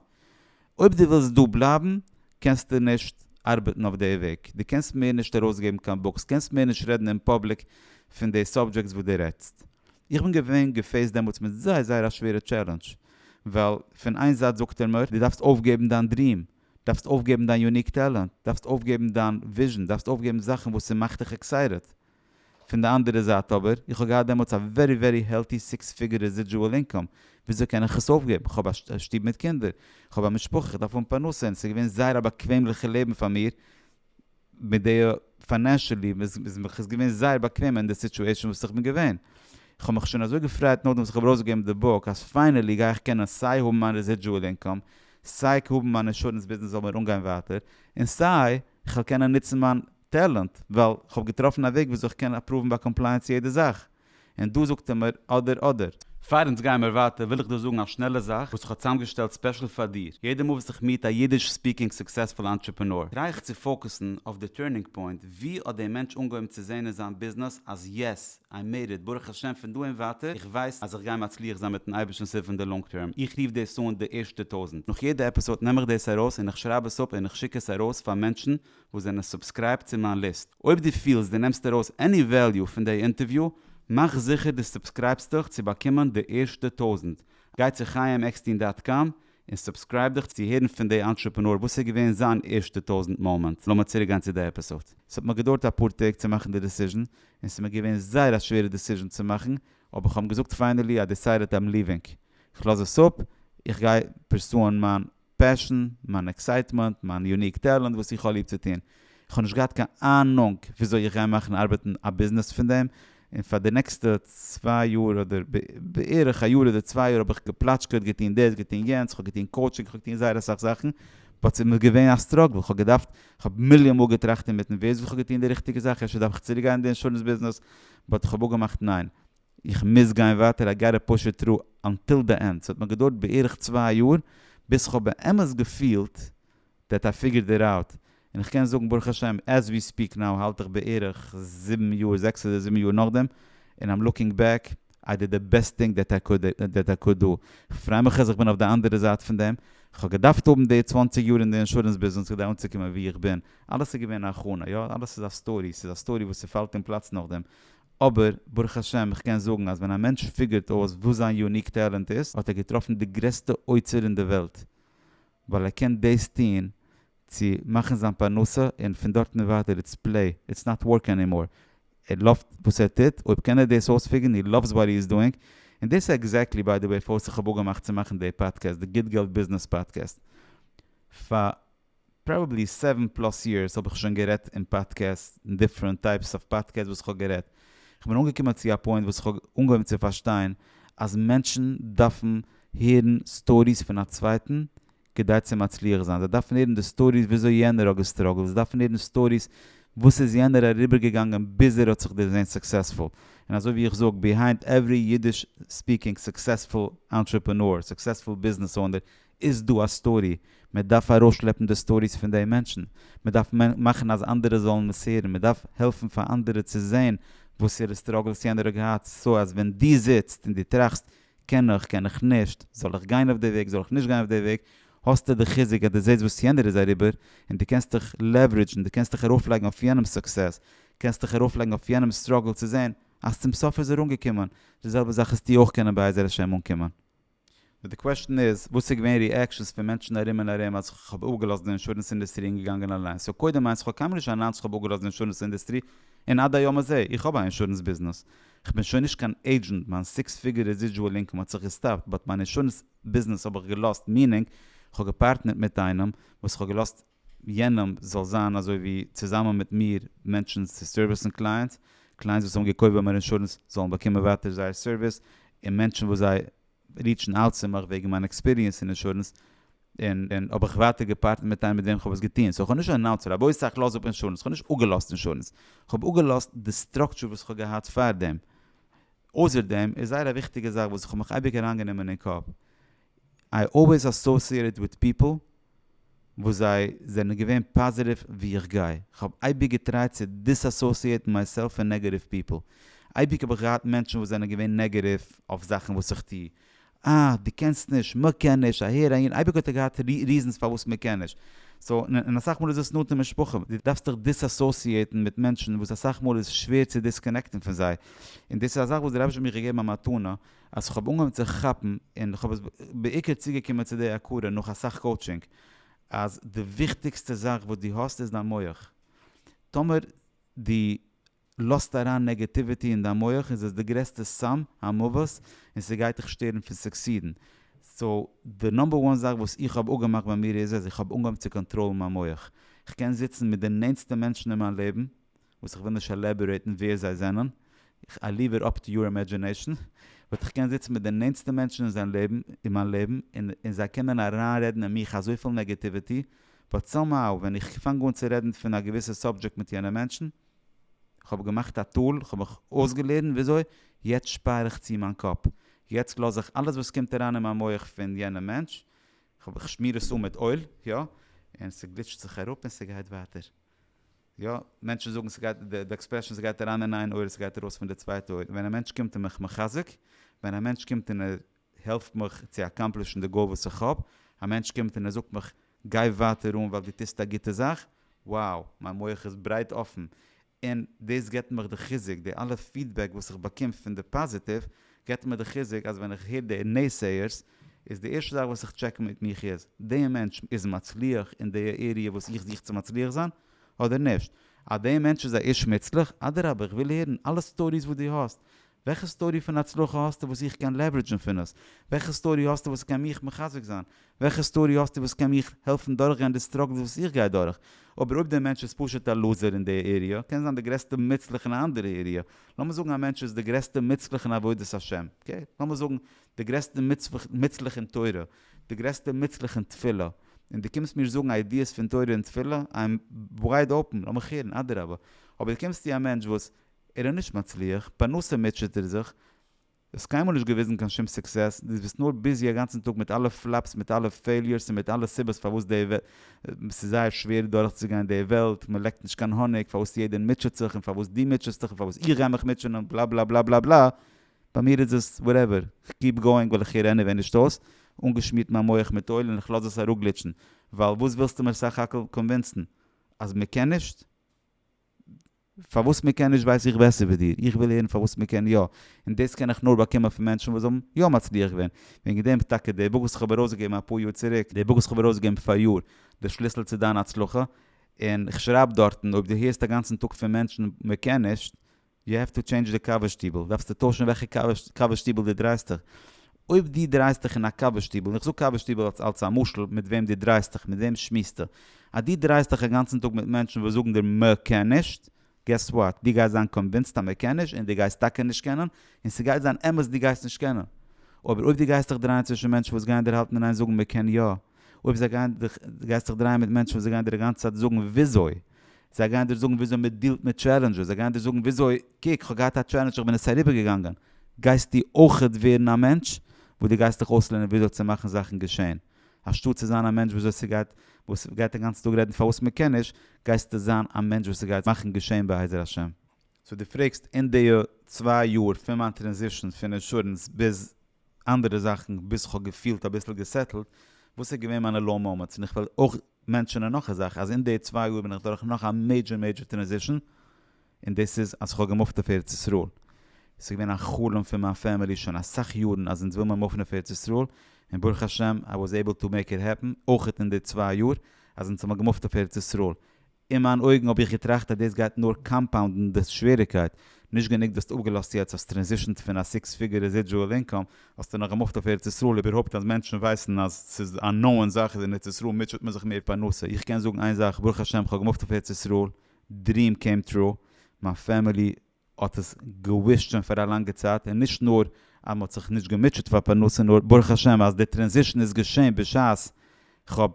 אויב דו ווילסט דא בלייבן קענסטו נישט ארבעטן אויף די וועג, דו קענסט מער נישט ארויסגעבן קיין בוקס, קענסט מער נישט רעדן אין פאבליק פון די סאבדזשעקטס וואס דו רעדסט. איך בין געווען געפעיסט דעמאלטס מיט זייער זייער א שווערע טשעלענדזש, ווייל פון איין זייט זאגט ער מיר דו דארפסט אויפגעבן דיין דריעם, דארפסט אויפגעבן דיין יוניק טעלענט, דארפסט אויפגעבן דיין וויזשען, דארפסט אויפגעבן זאכן וואס ס'מאכט דיך עקסייטעד. פון די אנדערע זייט אבער, איך האב געהאט דעמאלטס א ווערי ווערי העלטי סיקס פיגור רעזידזשועל אינקאם, וויאזוי קען איך עס אויפגעבן? איך האב א שטוב מיט קינדער, איך האב א משפחה, איך דארף האבן פרנסה, און עס איז געווען זייער א באקוועמליכע לעבן פאר מיר, מיט די פיינענשעלי איז מיך עס געווען זייער באקוועם אין די סיטועשאן וואס איך בין געווען. איך האב מיך שוין אזוי געפרייט נאכדעם וואס איך האב ארויסגעגעבן די בוק, אז פיינעלי גיי איך קענען סיי האבן מיין רעזידזשועל אינקאם, סיי האבן מיין אינשורענס ביזנעס זאל מיר אנגיין ווייטער, און סיי איך וועל קענען נוצן מיין טעלענט, ווייל כ'האב געטראפן א וועג וויאזוי כ'קען אפראוון ביי קאמפלייענס יעדע זאך, און דא זאגט ער מיר אדער אדער. פאר אונז גייען מיר ווייטער וויל איך דא זאגן א שנעלע זאך וואס כ'האב צוזאמגעשטעלט ספעשל פאר דיר, יעדע מאל וואס איך מיעט א אידיש ספיקינג סוקסעספול אנטרעפענאר טריי איך צו פאוקעסן אויף די טורנינג פוינט, ווי האט דער מענטש אנגעהויבן צו זעהן אין זיין ביזנעס אז יעס, איי מעיד איט, ברוך השם פון דא און ווייטער איך ווייס אז איך גיי מצליח זיין מיטן אייבערשטנ'ס הילף אין די לאנג טערם, איך רוף דאס אן די ערשטע טויזנט, נאך יעדע עפיסאד נעם איך דאס ארויס און איך שרייב עס אפ און איך שיק עס ארויס פאר מענטשן וואס זענען סובסקרייבט צו מיין ליסט. אויב דו פילסט דו נעמסט ארויס עני וועליו פון דעי אינטערוויו, מאך זיכער דו סובסקרייבסט דיך צו באקומען די ערשטע טויזנט. גיי צו חיים עקסטין דאט קאם און סובסקרייב דיך צו הערן פון דעי אנטרעפענאר וואס איז געווען זיין ערשטע טויזנט מאמענט. לאמיר צוריק גיין צו דעי עפיסאד. ס'האט מיר געדויערט אפאר טעג צו מאכן די דעסיזשן, און ס'איז מיר געווען זייער א שווערע דעסיזשן צו מאכן, אבער כ'האב אים געזאגט פיינעלי איי דעסיידעט איים ליווינג. כ'לאז עס אפ, איך גיי פורסוען מיין פעשן, מיין עקסייטמענט, מיין יוניק טעלענט וואס איך האב ליב צו טון. איך האב נישט געהאט קיין אהנונג וויאזוי איך גיי מאכן ארבעטן א ביזנעס פון דעם, און פאר די נעקסטע צוויי יאר אדער בערך א יאר אדער צוויי יאר האב איך געפלאטשקעט, געטון דאס, געטון יענץ, איך האב געטון קאוטשינג, איך האב געטון זייער אסאך זאכן, באט ס'איז מיר געווען א סטראגל, איך האב געדארפט, איך האב מיליאן מאל געטראכט אינמיטן ווער זאגט איך האב געטון די ריכטיגע זאך, אפשר דארף איך צוריקגיין אין די אינשורענס ביזנעס, באט איך האב אפגעמאכט ניין. איך מוז גיין ווייטער איי גאטע פוש איט טרו אנטיל די ענד, ס'האט מיר געדויערט בערך צוויי יאר ביז כ'האב באמת געפילט דעט איי פיגערד איט אוט, און איך קען זאגן ברוך השם עז ווי ספיעק נאו האלט איך בערך זיבן יאר, זעקס אדער זיבן יאר נאכדעם, און איים לוקינג בעק איי דיד די בעסט טינג דעט איי קוד דעט איי קוד דא, כ'פריי מיך אז איך בין אויף די אנדערע זייט פון דעם, כ'האב געדארפט האבן די צוואַנציק יאר אין די אינשורענס ביזנעס כדי אנצוקומען וואו איך בין, אלעס איז געווען א הכנה, יא אלעס איז א סטארי, ס'איז א סטארי וואס ס'פאלט אין פלאץ נאכדעם, אבער ברוך השם איך קען זאגן אז ווען א מענטש פיגערט אויס וואס זיין יוניק טעלענט איז האט ער געטראפן די גרעסטע אוצר אין די וועלט ווייל ער קען דאס טון צו מאכן זיין פרנסה און פון דארט און ווייטער איטס פלעי איטס נאט ווארק ענימאר ער לאווט וואס ער טוט אויב קען ער דאס אויספיגערן הי לאווס וואט הי איז דואינג און דאס איז עקזעקטלי ביי די וועי פארסט איך האב אפגעמאכט צו מאכן די פאדקעסט די גוט געלט ביזנעס פאדקעסט פאר פראבעבלי סעווען פלאס יערס האב איך שוין גערעדט אין פאדקעסט אין דיפרענט טייפס אוו פאדקעסט וואס איך האב גערעדט איך בין אנגעקומען צו א פוינט וואס איך האב אנגעהויבן צו פארשטיין אז מענטשן דארפן הערן סטאריס פון א צווייטן כדי צו מצליח זיין זיי דארפן הערן די סטאריס וויאזוי יענער האט געסטראגלט זיי דארפן הערן סטאריס וואס איז יענער אריבערגעגאנגען ביז ער האט זיך דערזעהן סוקסעספול און אזוי ווי איך זאג ביהיינד עווערי אידיש ספיקינג סוקסעספול אנטרעפענאר סוקסעספול ביזנעס אונער איז דא א סטארי, מען דארף ארויסשלעפן די סטאריס פון די מענטשן, מען דארף מאכן אז אנדערע זאלן עס הערן, מען דארף העלפן פאר אנדערע צו זען וואסערע סטראגלס יענער האט געהאט, סא אז ווען דו זיצט און דו טראכסט, קען איך, קען איך נישט, זאל איך גיין אויף די וועג, זאל איך נישט גיין אויף די וועג, האסטו די חיזוק אז דו זעסט וואס יענער איז אריבער, און דו קענסט דיך לעווערידזשן, דו קענסט דיך ארויפלייגן אויף יענעמ'ס סוקסעס, קענסט דיך ארויפלייגן אויף יענעמ'ס סטראגל צו זען אז צום סוף איז ער אנגעקומען, די זעלבע זאך איז טו אויך קענען בעזר השם אנקומען. נאר די קוועשן איז וואס איז געווען ריעקשנס פון מענטשן ארום און ארום אז כ'האב אפגעלאזט די אינשורענס אינדעסטרי און געגאנגען אליינס, סאו קודם איינס כ'האב קיינמאל נישט אנאנסט כ'האב אפגעלאזט די אינשורענס אינדעסטרי און עד היום הזה איך האב א אינשורענס ביזנעס, כ'בין שוין נישט קיין עידזשענט מיין סיקס פיגור רעזידזשועל אינקאם האט זיך געסטאפט באט מיין אינשורענס ביזנעס האב איך געלאזט מיענינג כ'האב געפארטנערט מיט איינעם וואס כ'האב געלאזט יענעם זאל זיין אזוי ווי צוזאמען מיט מיר מענטשן צו סערוויסן קלייענטס, קלייענטס וואס האבן געקויפט ביי מיר אינשורענס זאלן באקומען ווייטער זייער סערוויס, און מענטשן וואס זיי ריעטשן אוט צו מיך וועגן מיין עקספיריענס אין אינשורענס, און און האב איך ווייטער געפארטנערט מיט איינעם מיט וועם כ'האב עס געטון, סאו כ'האב נישט אנאונסט רבותי איך לאז אפ אינשורענס, כ'האב נישט אפגעלאזט אינשורענס, כ'האב אפגעלאזט די סטראקטשור וואס כ'האב געהאט פארדעם, אויסער דעם איז זייער א וויכטיגע זאך וואס כ'האב מיך אייביג אריינגענומען אין קאפ, איי אלוועיס אסאוסיעטעד וויט פיפל וואס זיי זענען געווען פאזיטיוו ווי איך גיי, כ'האב אייביג געטרייט צו דיסאסאוסיעטן מייסעלף פון נעגעטיוו פיפל, אייביג האב איך געהאט מענטשן וואס זענען געווען נעגעטיוו אויף זאכן וואס איך טו, אה דו קענסט נישט, מ'קען נישט, אהער אהין, אייביג האט ער געהאט ריזענס פארוואס מ'קען נישט, סאו און אסאך מאל איז דאס נאנטע משפחה, דו דארפסט דיך דיסאסאוסיעטן מיט מענטשן וואס אסאך מאל איז שווער צו דיסקאנעקטן פון זיי, און דאס איז א זאך וואס דער רבי שליט א האט מיר געגעבן א מתנה, אז כ'האב אנגעהויבן צו כאפן, און כ'האב עס בעיקר צוגעקומען צו די הכרה נאך אסאך קאוטשינג, אז די וויכטיגסטע זאך וואס דו האסט איז דיין מח. טאמער דו לאזט אריין נעגעטיוויטי אין דיין מח איז עס די גרעסטע סם המוות און ס'גייט דיך שטערן פון סוקסידן. סאו די נאמבער וואן זאך וואס איך האב אפגעמאכט ביי מיר איז אז איך האב אנגעהויבן צו קאנטראלן מיין מח. כ'קען זיצן מיט די נענטסטע מענטשן אין מיין לעבן וואס איך וויל נישט עלעבארעיטן ווער זיי זענען, איך איי ליוו איט אפ טו יור אימעדזשינעישן, וואלט איך געקענט זיצן מיט די נענטסטע מענטשן אין זיין לעבן, אין מיין לעבן, און און זיי קענען אריינרעדן אין מיך אזויפיל נעגעטיוועטי, באט סאמהאו ווען איך פאנג אן צו רעדן פון א געוויסע סאבדזשעקט מיט יענע מענטשן, איך האב געמאכט א טול, איך האב מיך אויסגעלערנט וויאזוי, יעצט שפאר איך צו מיין קאפ, יעצט לאז איך אלעס וואס קומט אריין אין מיין מח פון יענע מענטש, איך שמיר עס אן מיט אויל, יא, און ס'גליטשט זיך אראפ און ס'גייט ווייטער. יא, מענטשן זאגן ס'גייט, די עקספרעשן ס'גייט אריין אין איין אויער ס'גייט ארויס פון די צווייטע אויער, ווען א מענטש קומט און מיך מחזק, ווען א מענטש קומט און ער העלפט מיך צו אקאמפלישן די גאול וואס איך האב, א מענטש קומט און ער זאגט מיך גיי ווייטער אן ווייל דו טוסט א גוטע זאך, wow, מיין מח איז ברייט אפן, און דאס געבט מיך די חיזוק, די אלע פידבעק וואס איך באקום פון די פאזיטיוו געבט מיר די חיזוק אז ווען איך הער די נעסעיערס איז די ערשטע זאך וואס איך טשעק מיט מיך איז, די מענטש איז מצליח אין די עריע וואס איך זוך צו מצליח זיין, אדער נישט? אז די מענטש איז א איש מוצלח, אדרבה איך וויל הערן אלע סטאריס וואס דו האסט, וועלכע סטארי פון הצלחה האסטו וואס איך קען לעוורעדזשן פון עס? וועלכע סטארי האסטו וואס קען מיך מחזק זיין? וועלכע סטארי האסטו וואס קען מיך העלפן דורכגיין די סטראגלס וואס איך גיי דורך? אבער אויב די מענטש איז פשוט א לוזער אין די עריע, קען זיין די גרעסטע מוצלח אין א אנדערע עריע, לאמיר זאגן א מענטש איז די גרעסטע מוצלח אין עבודת השם, אקעי? לאמיר זאגן די גרעסטע מוצלח אין תורה, די גרעסטע מוצלח אין תפילה, און דו קומסט מיר זאגן איידיעס פון תורה און תפילה? איי עם ווייד אפען, לאמיך הערן, אדרבה. אבער דו קומסט צו א מענטש וואס ער איז נישט מצליח, פרנסה מוטשעט ער זיך, דו האסט קיינמאל נישט געוויזן קיין שום סוקסעס, דו ביסט נאר ביזי א גאנצן טאג מיט אלע פלאפס, מיט אלע פעיליורס, און מיט אלע סיבות פארוואס די וועלט, ס'איז זייער שווער דורכצוגיין די וועלט, מ'לעקט נישט קיין האניג, פארוואס יעדער מוטשעט זיך, און פארוואס דו מוטשעסט דיך, און פארוואס איך גיי מיך מוטשען, און בלאבלאבלאבלאבלא. ביי מיר איז עס וואטעווער, כ'קיעפ גאוינג ווייל איך הער עניוועי נישט אויס, אנגעשמירט מיין מח מיט אויל און איך לאז עס אראפגליטשן, ווייל וואס ווילסטו מיר סך הכל קאנווינסן? אז מ'קען נישט? פארוואס מ'קען נישט ווייס איך בעסער ווי דיר, איך וויל הערן פארוואס מ'קען יא, און דאס קען איך נאר באקומען פון מענטשן וואס האבן יא מצליח געווען, וועגן דעם טאקע די בוק וואס כ'האב ארויסגעגעבן אפאר יאר צוריק, די בוק וואס כ'האב ארויסגעגעבן פאראיאר, די שליסל צו דיין הצלחה, און כ'שרייב דארטן אויב דו הערסט אגאנצן טאג פון מענטשן מ'קען נישט, יו העוו טו טשעינדזש די קאווע שטיבל, דארפסטו טוישן וועלכע קאווע שטיבל דו דרייסט דיך. אויב דו דרייסט דיך אין א קאווע שטיבל, און איך זאג קאווע שטיבל אלס אלס א משל, מיט וועם דו דרייסט דיך, מיט וועם שמועסטו. אז דו דרייסט דיך אגאנצן טאג מיט מענטשן וואס זאגן דיר מע קען נישט, געס וואט, דו גייסט זיין קאנווינסד אז מע קען נישט, און דו גייסט טאקע נישט קענען, און ס'גייט זיין אמת דו גייסט נישט קענען. אבער אויב דו גייסט דיך דרייען צווישן מענטשן וואס גייען דיר האלטן און איין זאגן מע קען יא. אויב זיי גייען דיך, גייסט דיך דרייען מיט מענטשן וואס זיי גייען דיר די גאנצע צייט זאגן וויאזוי. זיי גייען דיר זאגן וויאזוי מען דיעלט מיט טשעלענדזשעס, זיי גייען דיר זאגן וויאזוי, קוק, כ'האב געהאט א טשעלענדזש איך בין עס אריבערגעגאנגען, גייסטו אויכעט ווערן א מענטש וואס דו גייסט דיך אויסלערנען וויאזוי צו מאכן זאכן געשען, אנשטאט צו זיין א מענטש וואס עס גייט וואס גייט אינגאנצן טאג רעדן פארוואס מען קען נישט, גייסטו זיין א מענטש וואס עס גייט מאכן געשען בעזר השם. סאו דו פרעגסט אין די צוויי יאר פון מיין טרענזישאן פון אינשורענס ביז אנדערע זאכן ביז כ'האב געפילט אביסל געסעטלט, וואס איז געווען מיינע לאו מאמענטס, און איך וועל אויך מענטשענען נאך א זאך אז אין די צוויי יאר בין איך דורך נאך א מעידזשער מעידזשער טרענזישן, און דאס איז אז כ'האב געמופט אויף ארץ ישראל, ס'איז געווען א חלום פון מיין פעמילי שוין אסאך יארן אז אונז וויל מיר מופן אויף ארץ ישראל, און ברוך השם איי וואס עיבל טו מעיק איט העפן, אויך אין די צוויי יאר אז אונז האבן געמופט אויף ארץ ישראל, אין מיין אויגן האב איך געטראכט אז דאס גייט נאר קאמפאונדן די שוועריגקייט, נישט גענוג וואס האסט אפגעלאזט יעצט, האסט טרענזישענט פון א סיקס פיגור רעזידזשועל אינקאם, האסטו נאך געמופט אויף ארץ ישראל, איבערהויפט אז מענטשן ווייסן אז ס'איז א נאוען זאך אז אין ארץ ישראל מוטשעט מען זיך מער פרנסה, איך קען זאגן איין זאך ברוך השם כ'האב געמופט אויף ארץ ישראל, דריעם קעים טרו, מיין פעמילי האט עס געוויסט שוין פאר א לאנגע צייט און נישט נאר אז מען האט זיך נישט געמוטשעט פאר פרנסה נאר ברוך השם אז די טרענזישן איז געשען בשעת כ'האב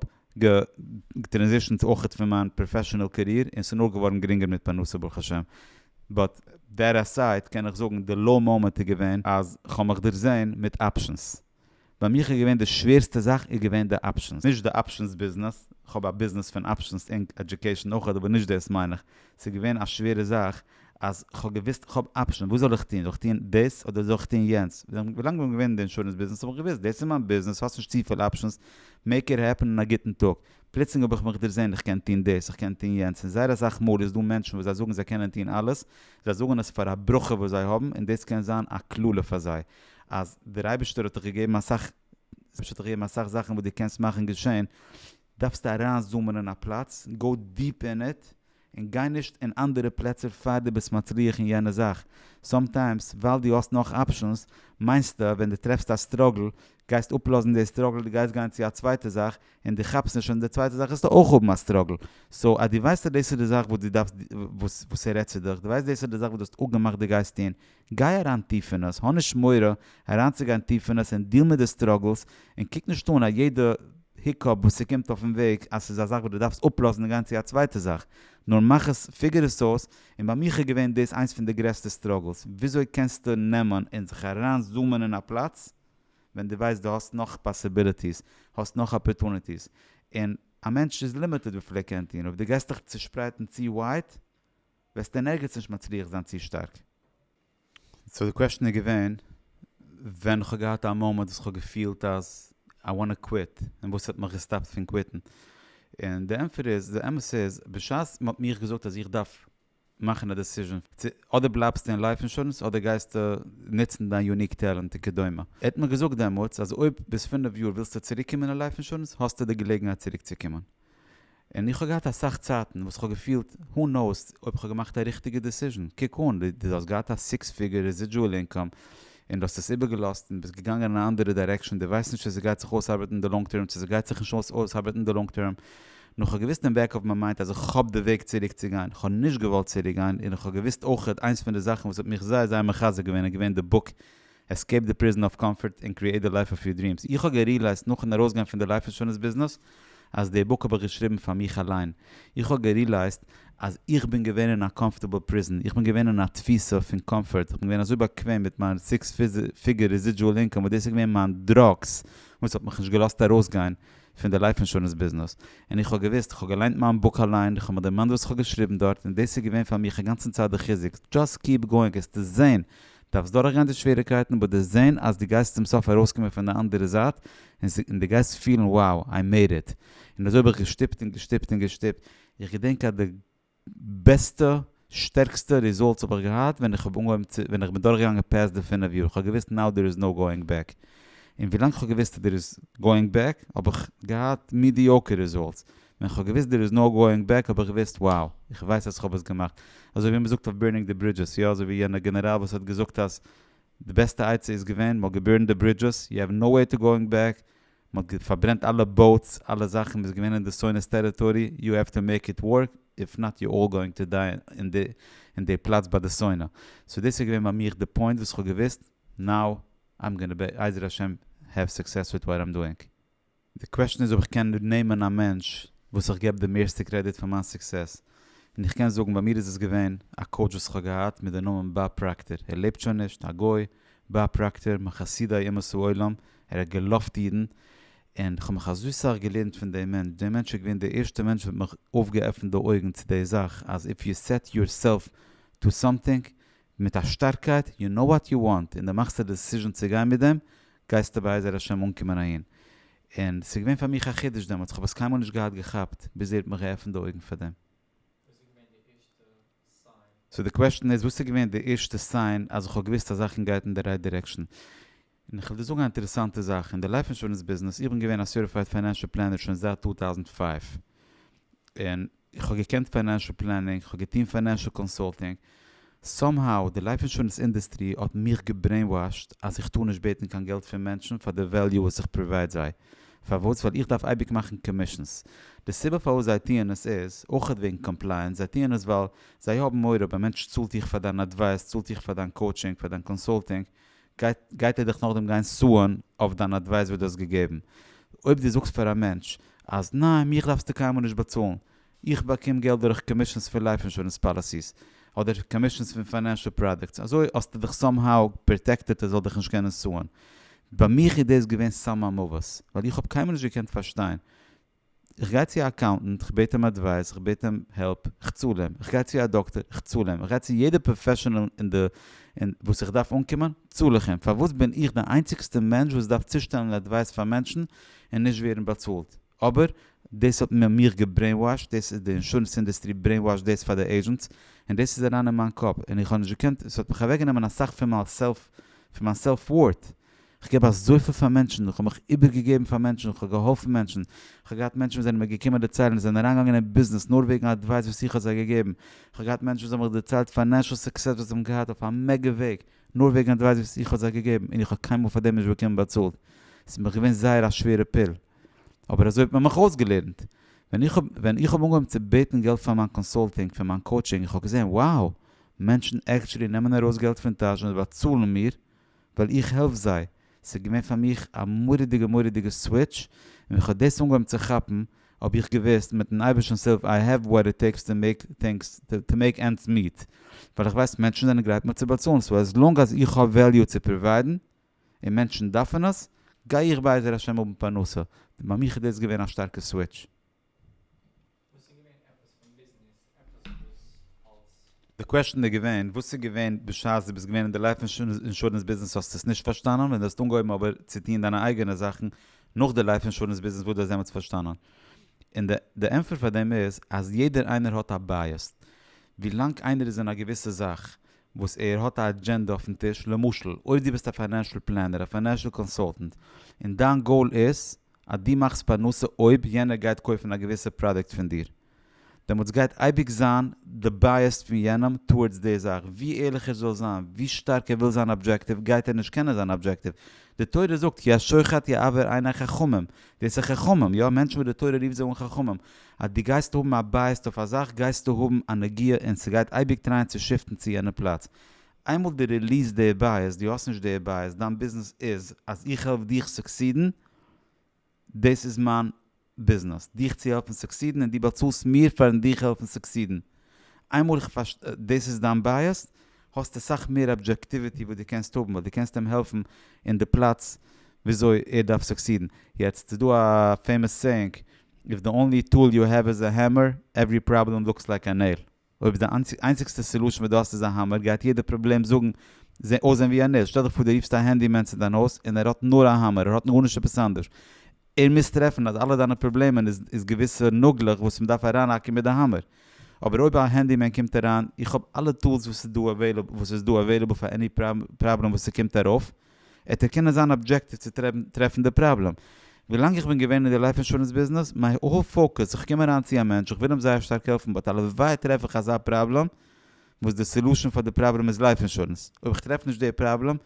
געטרענזישענט אויכעט פון מיין פראפעשענעל קעריער און ס'איז נאר געווארן גרינגער מיט פרנסה ברוך השם באט דעט עסייד קען איך זאגן די לאו מאמענט איז געווען אז כ'האב מיך דערזען מיט אפשענס. ביי מיך איז געווען די שווערסטע זאך איז געווען די אפשענס, נישט די אפשענס ביזנעס, כ'האב א ביזנעס פון אפשענס אינק עדיוקעישן אויך אבער נישט דאס מיין איך, ס'איז געווען א שווערע זאך אז כ'האב געוויסט כ'האב אפשענס וואס זאל איך טון, זאל איך טון דאס אדער זאל איך טון יענץ, ווילאנג כ'בין געווען אין די אינשורענס ביזנעס האב איך געוויסט דאס איז מיין ביזנעס האסט נישט צופיל אפשענס, מעיק איט העפען און א גוטן טאג, פלוצלינג האב איך מיך דערזען איך קען טון דאס איך קען טון יענץ און זייער אסאך מאל איז דא מענטשן וואס זיי זאגן זיי קענען טון אלעס, זיי זאגן עס פאר א ברכה וואס זיי האבן און דאס קען זיין א קללה פאר זיי, אז דער אייבערשטער האט דיך געגעבן אסאך האט דיך געגעבן אסאך זאכן וואס דו קענסט מאכן געשען, דארפסטו אריין זומען אין א פלאץ, גאו דיפ אין איט, און גיי נישט אין אנדערע פלעצער פאר דו ביסט מצליח אין יענע זאך, סאמטיימס ווייל דו האסט נאך אפשענס מיינסטו אז ווען דו טרעפסט א סטראגל גייסט אפלאזן די סטראגל דו גייסט גיין צו א צווייטע זאך און דו כאפסט נישט אז אין די צווייטע זאך וועסטו אויך האבן א סטראגל, סאו אז דו ווייסט אז דאס איז די זאך וואס דו דארפסט וואס ער רעדט צו דיך, דו ווייסט דאס איז די זאך וואס דו האסט אפגעמאכט דו גייסט טון, גיי אריין טיף אין עס, האב נישט מורא אריינצוגיין טיף אין עס און דיעל מיט די סטראגלס, און קוק נישט אן א יעדע היקאפ וואס ס'קומט אויפן וועג אז ס'איז א זאך וואס דו דארפסט אפלאזן און גיין צו א צווייטע זאך, נאר מאך עס, פיגור עס אויס, און ביי מיך איז געווען דאס איינס פון די גרעסטע סטראגלס, וויאזוי קענסטו נעמען און זיך אריין זומען אין א פלאץ ווען דו ווייסט דו האסט נאך פאסיביליטיס, האסט נאך אפערטוניטיס, און א מענטש איז לימיטעד וויפיל ער קען טון, אויב דו גייסט דיך צושפרייטן צו ווייט, וועסט אין ערגעץ נישט מצליח זיין צו שטארק. סאו די קוועשאן איז געווען, ווען איך האב געהאט א מאמענט וואס איך האב געפילט אז איי וואנט טו קוויט, און וואס האט מיך געסטאפט פון קוויטן. און די ענטפער איז, די אמת איז, בשעת מען האט מיך געזאגט אז איך דארף מאכן א דעסיזשען צו אדער בלייבסטו אין לייף אינשורענס אדער גייסטו נוצן דיין יוניק טעלענט וכדומה. ער האט מיר געזאגט דעמאלטס אז אויב ביז פינף יאר ווילסטו צוריקקומען אין לייף אינשורענס האסטו די געלעגנהייט צוריקצוקומען. און איך האב געהאט אסאך צייטן וואס כ'האב געפילט הו נאוס אויב כ'האב געמאכט א ריכטיגע דיסיזשען, קוק אן דו האסט געהאט א סיקס פיגור רעזידזשועל אינקאם און דו האסט עס איבערגעלאזט און ביסט געגאנגען אין א אנדערע דיירעקשאן, דו ווייסט נישט צו ס'גייט זיך אויסארבעטן אין די לאנג טערם צו ס'גייט זיך נישט אויסארבעטן אין די לאנג טערם, נו כ'האב געוואוסט אין בעק אוו מיי מיינד אז איך האב די וועג צוריק צו גיין, כ'האב נישט געוואלט צוריק גיין און איך האב געוואוסט אויכעט איינס פון די זאכן וואס האט מיך זייער זייער מחזק געווען איז געווען די בוק עסקעיפ די פריזן אף קאמפארט און קריעיט די לייף אף יור דריעמס. איך האב געריעלייזט נאכן ארויסגיין פון די לייף אינשורענס ביזנעס אז די בוק האב איך געשריבן פאר מיך אליין. איך האב געריעלייזט אז איך בין געווען אין א קאמפארטעבל פריזן. איך בין געווען אין א תפיסה פון קאמפארט. איך בין געווען אזוי באקוועם מיט מיין סיקס פיגער רעזידזשועל אינקאם וואס דאס איז געווען מיין דראגס וואס האט מיך נישט געלאזט ארויסגיין פון די לייף אינשורענס ביזנעס. און איך האב געוואוסט. איך האב געליינט מיין בוק אליין. איך האב מיך דערמאנט וואס איך האב געשריבן דארט. און דאס איז געווען פאר מיך אינגאנצן צייט די חיזוק. דזשאסט קיעפ גאוינג. העסטו זען דארפסט דורכגיין די שוועריקייטן באט די זעהן אז די גייסט צום סוף ארויסקומען פון די אנדערע זייט און די גייסט פילן wow i made it און אזוי האב איך געשטופט און געשטופט און געשטופט איך געדענק אז די בעסטע שטערקסטע ריזאלטס האב איך געהאט ווען איך האב אנגעהויבן צו ווען איך בין דורכגעגאנגען פעסט די פינף יאר כ'האב געוויסט נאו דער איז נאו גאויאינג בעק און ווילאנג כ'האב געוויסט אז דער איז גאויאינג בעק האב איך געהאט מידיאוקער ריזאלטס ווען כ'האב געוויסט דער איז נאו גאוינג בעק האב איך געוויסט וואו, איך ווייס אז כ'האב עס געמאכט. אזוי ווי מ'זאגט אויף בירנינג די ברידזשעס, יא אזוי ווי יענע גענעראל וואס האט געזאגט אז די בעסטע עצה איז געווען מ'האט געבירנט די ברידזשעס, יו העוו נאו וועי טו גאוינג בעק, מ'האט פארברענט אלע באוטס, אלע זאכן, מ'איז געווען אין די סונית טעריטארי, יו העוו טו מעיק איט ווארק, איף נאט יו אלל גאוינג טו דיי אין די אין די פלאץ ביי די סונה. סאו דאס איז געווען ביי מיך די פוינט וואס כ'האב געוויסט נאו איים גאנא בעיזר השם העוו סוקסעס וויט וואט איים דאוינג. די קוועשן איז אויב איך קען נעמען א מענטש וואס איך געב די מערסטע קרעדיט פאר מיין סוקסעס, און איך קען זאגן ביי מיר איז עס געווען א קאוטש וואס איך האב געהאט מיט די נאמען באב פראקטער, ער לעבט שוין נישט, א גוי, באב פראקטער, מחסידי אומות העולם, ער האט געלאווט אידן, און כ'האב מיך אזוי סאך געלערנט פון דעם מענטש, דער מענטש איז געווען דער ערשטער מענטש וואס האט מיך אויפגעעפנט די אויגן צו די זאך אז איף יו סעט יורסעלף טו סאמטינג מיט א שטארקייט, יו נאו וואט יו וואנט, און דו מאכסט א דעסיזשען צו גיין מיט דעם, גייסטו בעזר השם אנקומען אהין. און ס'איז געווען פאר מיך א חידוש דעמאלטס, כ'האב עס קיינמאל נישט געהאט געכאפט, ביז איר האט מיך געעפנט די אויגן פאר דעם. סאו די קוועשטען איז וואס איז געווען די ערשטע סיין אז איך האב געוואוסט אז זאכן גייט אין די רייט דירעקשאן? און איך וועל דיר זאגן א אינטערעסאנטע זאך אין די לייף אינשורענס ביזנעס, איך בין געווען א סערטיפייד פיינענשעל פלענער שוין זייט טו טאוזנט פייוו, און איך האב געקענט פיינענשעל פלענינג, איך האב געטון פיינענשעל קאנסולטינג, סאם האו די לייף אינשורענס אינדעסטרי האט מיך געברעינוואשט אז איך טאר נישט בעטן קיין געלט פון מענטשן פאר די וועליו וואס איך פראווייד זיי, פארוואס? ווייל איך דארף אייביג מאכן קאמישענס, די סיבה פארוואס זיי טוען עס איז אויכעט וועגן קאמפלייענס, זיי טוען עס ווייל זיי האבן מורא אויב א מענטש צאלט דיך פאר דיין אדווייס, צאלט דיך פאר דיין קאוטשינג, פאר דיין קאנסולטינג, גייט ער דיך נאכדעם גיין סוען אויף דיין אדווייס וואס דו האסט געגעבן. אויב דו זאגסט פאר א מענטש אז ניין מיך דארפסטו קיינמאל נישט באצאלן, איך באקום געלט דורך קאמישענס פון לייף אינשורענס פאליסיס, אדער קאמישענס פון פיינענשעל פראדוקטס, אזוי האסטו דיך סאם האו פראטעקטעד ער זאל דיך נישט קענען סוען. ביי מיך איז דאס געווען סם המוות, ווייל איך האב קיינמאל נישט געקענט פארשטיין איך גיי צו א אקאונטענט, כ'בעט אים אדווייס, כ'בעט אים העלפ, כ'צאל אים, כ'גיי צו א דאקטער, כ'צאל אים, כ'גיי צו יעדע פראפעשענעל אין די אין וואס איך דארף אנקומען, צאל איך אים, פארוואס בין איך די איינציגסטע מענטש וואס דארף צושטעלן אדווייס פאר מענטשן און נישט ווערן באצאלט? אבער דאס האט מען מיך געברעינוואשט, דאס איז די אינשורענס אינדעסטרי ברעינוואשט דאס פאר די עידזשענטס, און דאס איז אריין אין מיין קאפ, און איך האב נישט געקענט, ס'האט מיך אוועקגענומען אסאך פון מיין סעלף פון מיין סעלף ווארט, כ'געב אזויפיל פאר מענטשן, כ'האב מיך איבערגעגעבן פאר מענטשן, כ'האב געהאלפן מענטשן, כ'האב געהאט מענטשן וואס זענען מיר געקומען דערציילן, זיי זענען אריינגעגאנגען אין ביזנעס נאר וועגן אדווייס וואס איך האב זיי געגעבן, כ'האב געהאט מענטשן וואס האבן מיך דערציילט פיינענשל סוקסעס וואס זיי האבן געהאט אויף א מעגע וועג, נאר וועגן אדווייס וואס איך האב זיי געגעבן, און איך האב קיינמאל פאר דעם נישט באקומען באצאלט, ס'איז מיך געווען זייער א שווערע פיל, אבער אזוי האט מען מיך אויסגעלערנט, ווען איך האב ווען איך האב אנגעהויבן צו בעטן געלט פאר מיין קאנסולטינג, פאר מיין קאוטשינג, איך האב געזען, wow, מענטשן עקטשולי נעמען ארויס געלט פון טאש און באצאלן מיר, ווייל איך העלף זיי, ס'איז געווען פאר מיך א מורא'דיגע מורא'דיגע סוויטש, און ווען כ'האב דאס אנגעהויבן צו כאפן, האב איך געוואוסט מיט'ן אייבערשטנ'ס הילף איי העוו וואט איט טעיקס טו מעיק טינגס, טו מעיק ענדס מיעט, ווייל איך ווייס מענטשן זענען גרייט מיר צו באצאלן, סאו עז לאנג אז איך האב וועליו צו פראוויידן, און מענטשן דארפן עס, גיי איך בעזר השם האבן פרנסה, ביי מיך איז דאס געווען א שטארקע סוויטש. וואס איז געווען עפעס פון ביזנעס עפעס וואס אלס. די קוועשטען איז געווען וואס איז געווען בשעת דו ביסט געווען אין די לייף אינשורענס ביזנעס האסטו עס נישט פארשטאנען ווען דו האסט אנגעהויבן אבער צו טוהן דיינע אייגענע זאכן נאך די לייף אינשורענס ביזנעס וואס דו האסט דעמאלטס פארשטאנען און די די ענפער פאר דעם איז אז יעדער איינער האט א בייעס ווי לאנג איינער איז אין א געוויסע זאך וואס ער האט א אדזשענדע אויפן טיש למשל אויב דו ביסט א פיינענשעל פלענער א פיינענשעל קאנסאלטענט און דיין גאול איז אז דו מאכסט פרנסה אויב יענער גייט קויפן א געוויסע פראדוקט פון דיר, דעמאלטס גייט אייביג זיין די בייעס פון יענעם טאווארדס די זאך, ווי ערליך ער זאל זיין, ווי שטארק ער וויל זיין אבדזשעקטיוו, גייט ער נישט קענען זיין אבדזשעקטיוו. די תורה זאגט, כי השוחט יעוור עיני חכמים, דאס איז חכמים, יא, מענטשן וואס די תורה רופט זיי אן חכמים, אז דו גייסט האבן א בייעס אויף א זאך גייסטו האבן א נגיעה און ס'גייט אייביג טרייען צו שיפטן צו יענע פלאץ. איינמאל דו ריליעסט די בייעס, דו האסט נישט די בייעס, דיין ביזנעס איז אז איך העלף דיך סוקסידן, דאס איז מיין ביזנעס, דיך צו העלפן סוקסידן און דו באצאלסט מיר פארן דיך העלפן סוקסידן. איינמאל איך פארשט דאס איז דיין בייעס, האסטו סאך מער אבדזשעקטיוויטי וואס דו קענסט האבן, ווייל דו קענסט אים העלפן אין די פלאץ וויאזוי ער דארף סוקסידן. יעצט איז דא א פעימאס סעיאינג, איף די אנלי טול יו העוו איז א העמער, עווערי פראבלעם לוקס לייק א נעיל. אויב די איינציגסטע סעלושן וואס דו האסט איז א האמער גייט יעדע פראבלעם זאגן אויסזען ווי א נס, שטעל דיך פאר דו רופסט א הענדי מען צו דיין הויז און ער האט נאר א האמער ער האט גארנישט עפעס אנדערש, ער מוז טרעפן אז אלע דיינע פראבלעמען איז איז געוויסע נאגלעך וואס מען דארף אריינהאקן מיט די האמער, אבער אויב א הענדי מען קומט אריין איך האב אלע טולס וואס איז דא אוועילעבל וואס איז דא אוועילעבל פאר עני פראבלעם וואס ס'קומט ארויף, העט ער קענען זיין אבדזשעקטיוו צו טרעפן די פראבלעם. ווילאנג איך בין געווען אין די לייף אינשורענס ביזנעס, מיי האול פאוקוס, איך קום אריין צו א מענטש, איך וויל אים זייער שטארק העלפן, באט הלוואי טרעף איך אזא פראבלעם וואס די סעלושען פאר די פראבלעם איז לייף אינשורענס. אויב איך טרעף נישט די פראבלעם,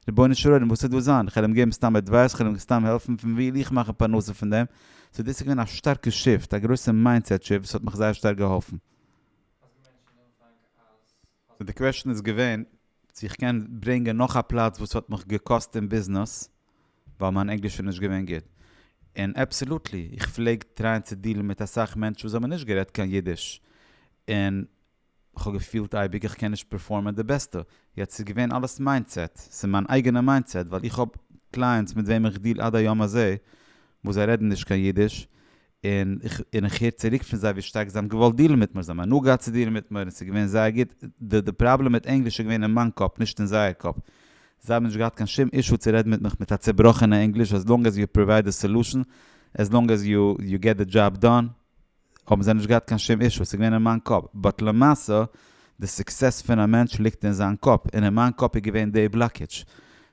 רבונו של עולם וואס איז דא זיין? איך וועל אים געבן סתם עדווייס, כ'וועל אים סתם העלפן, פון ווי וויל איך מאכן פרנסה פון דעם? סאו דאס איז געווען א שטארקע שיפט, א גרויסע מיינדסעט שיפט וואס האט מיך זייער שטארק געהאלפן. די קוועשן איז געווען צו איך קען ברענגען נאך א פלאץ וואס האט מיך געקאסט אין ביזנעס ווייל מיין ענגליש איז נישט געווען גוט. און אבסעלוטלי, איך פלעג טרייען צו דילן מיט אסאך מענטשן וואס האבן נישט גערעדט קיין אידיש, און כ'האב געפילט אייביג איך קען נישט פערפארמען די בעסטע. יעצט ס'איז געווען אלעס מיינדסעט, ס'איז מיין אייגענע מיינדסעט, ווייל איך האב קלייענטס מיט וועם איך דיל עד היום הזה וואס זיי רעדן נישט קיין אידיש, און און איך הער צוריק פון זיי ווי שטארק זיי האבן געוואלט דיעלן מיט מיר, זיי האבן הנאה געהאט צו דיעלן מיט מיר און ס'איז געווען זייער גוט, די די פראבלעם מיט ענגליש איז געווען אין מיין קאפ נישט אין זייער קאפ, זיי האבן נישט געהאט קיין שום אישו צו רעדן מיט מיך מיט א צובראכענע ענגליש עז לאנג עז יו פראווייד די סעלושען, עז לאנג עז יו יו געט די דזשאב דאן, האבן זיי נישט געהאט קיין שום אישו, ס'איז געווען אין מיין קאפ, באט למעשה די סוקסעס פון א מענטש ליגט אין זיין קאפ, און אין מיין קאפ איז געווען די בלאקעדזש,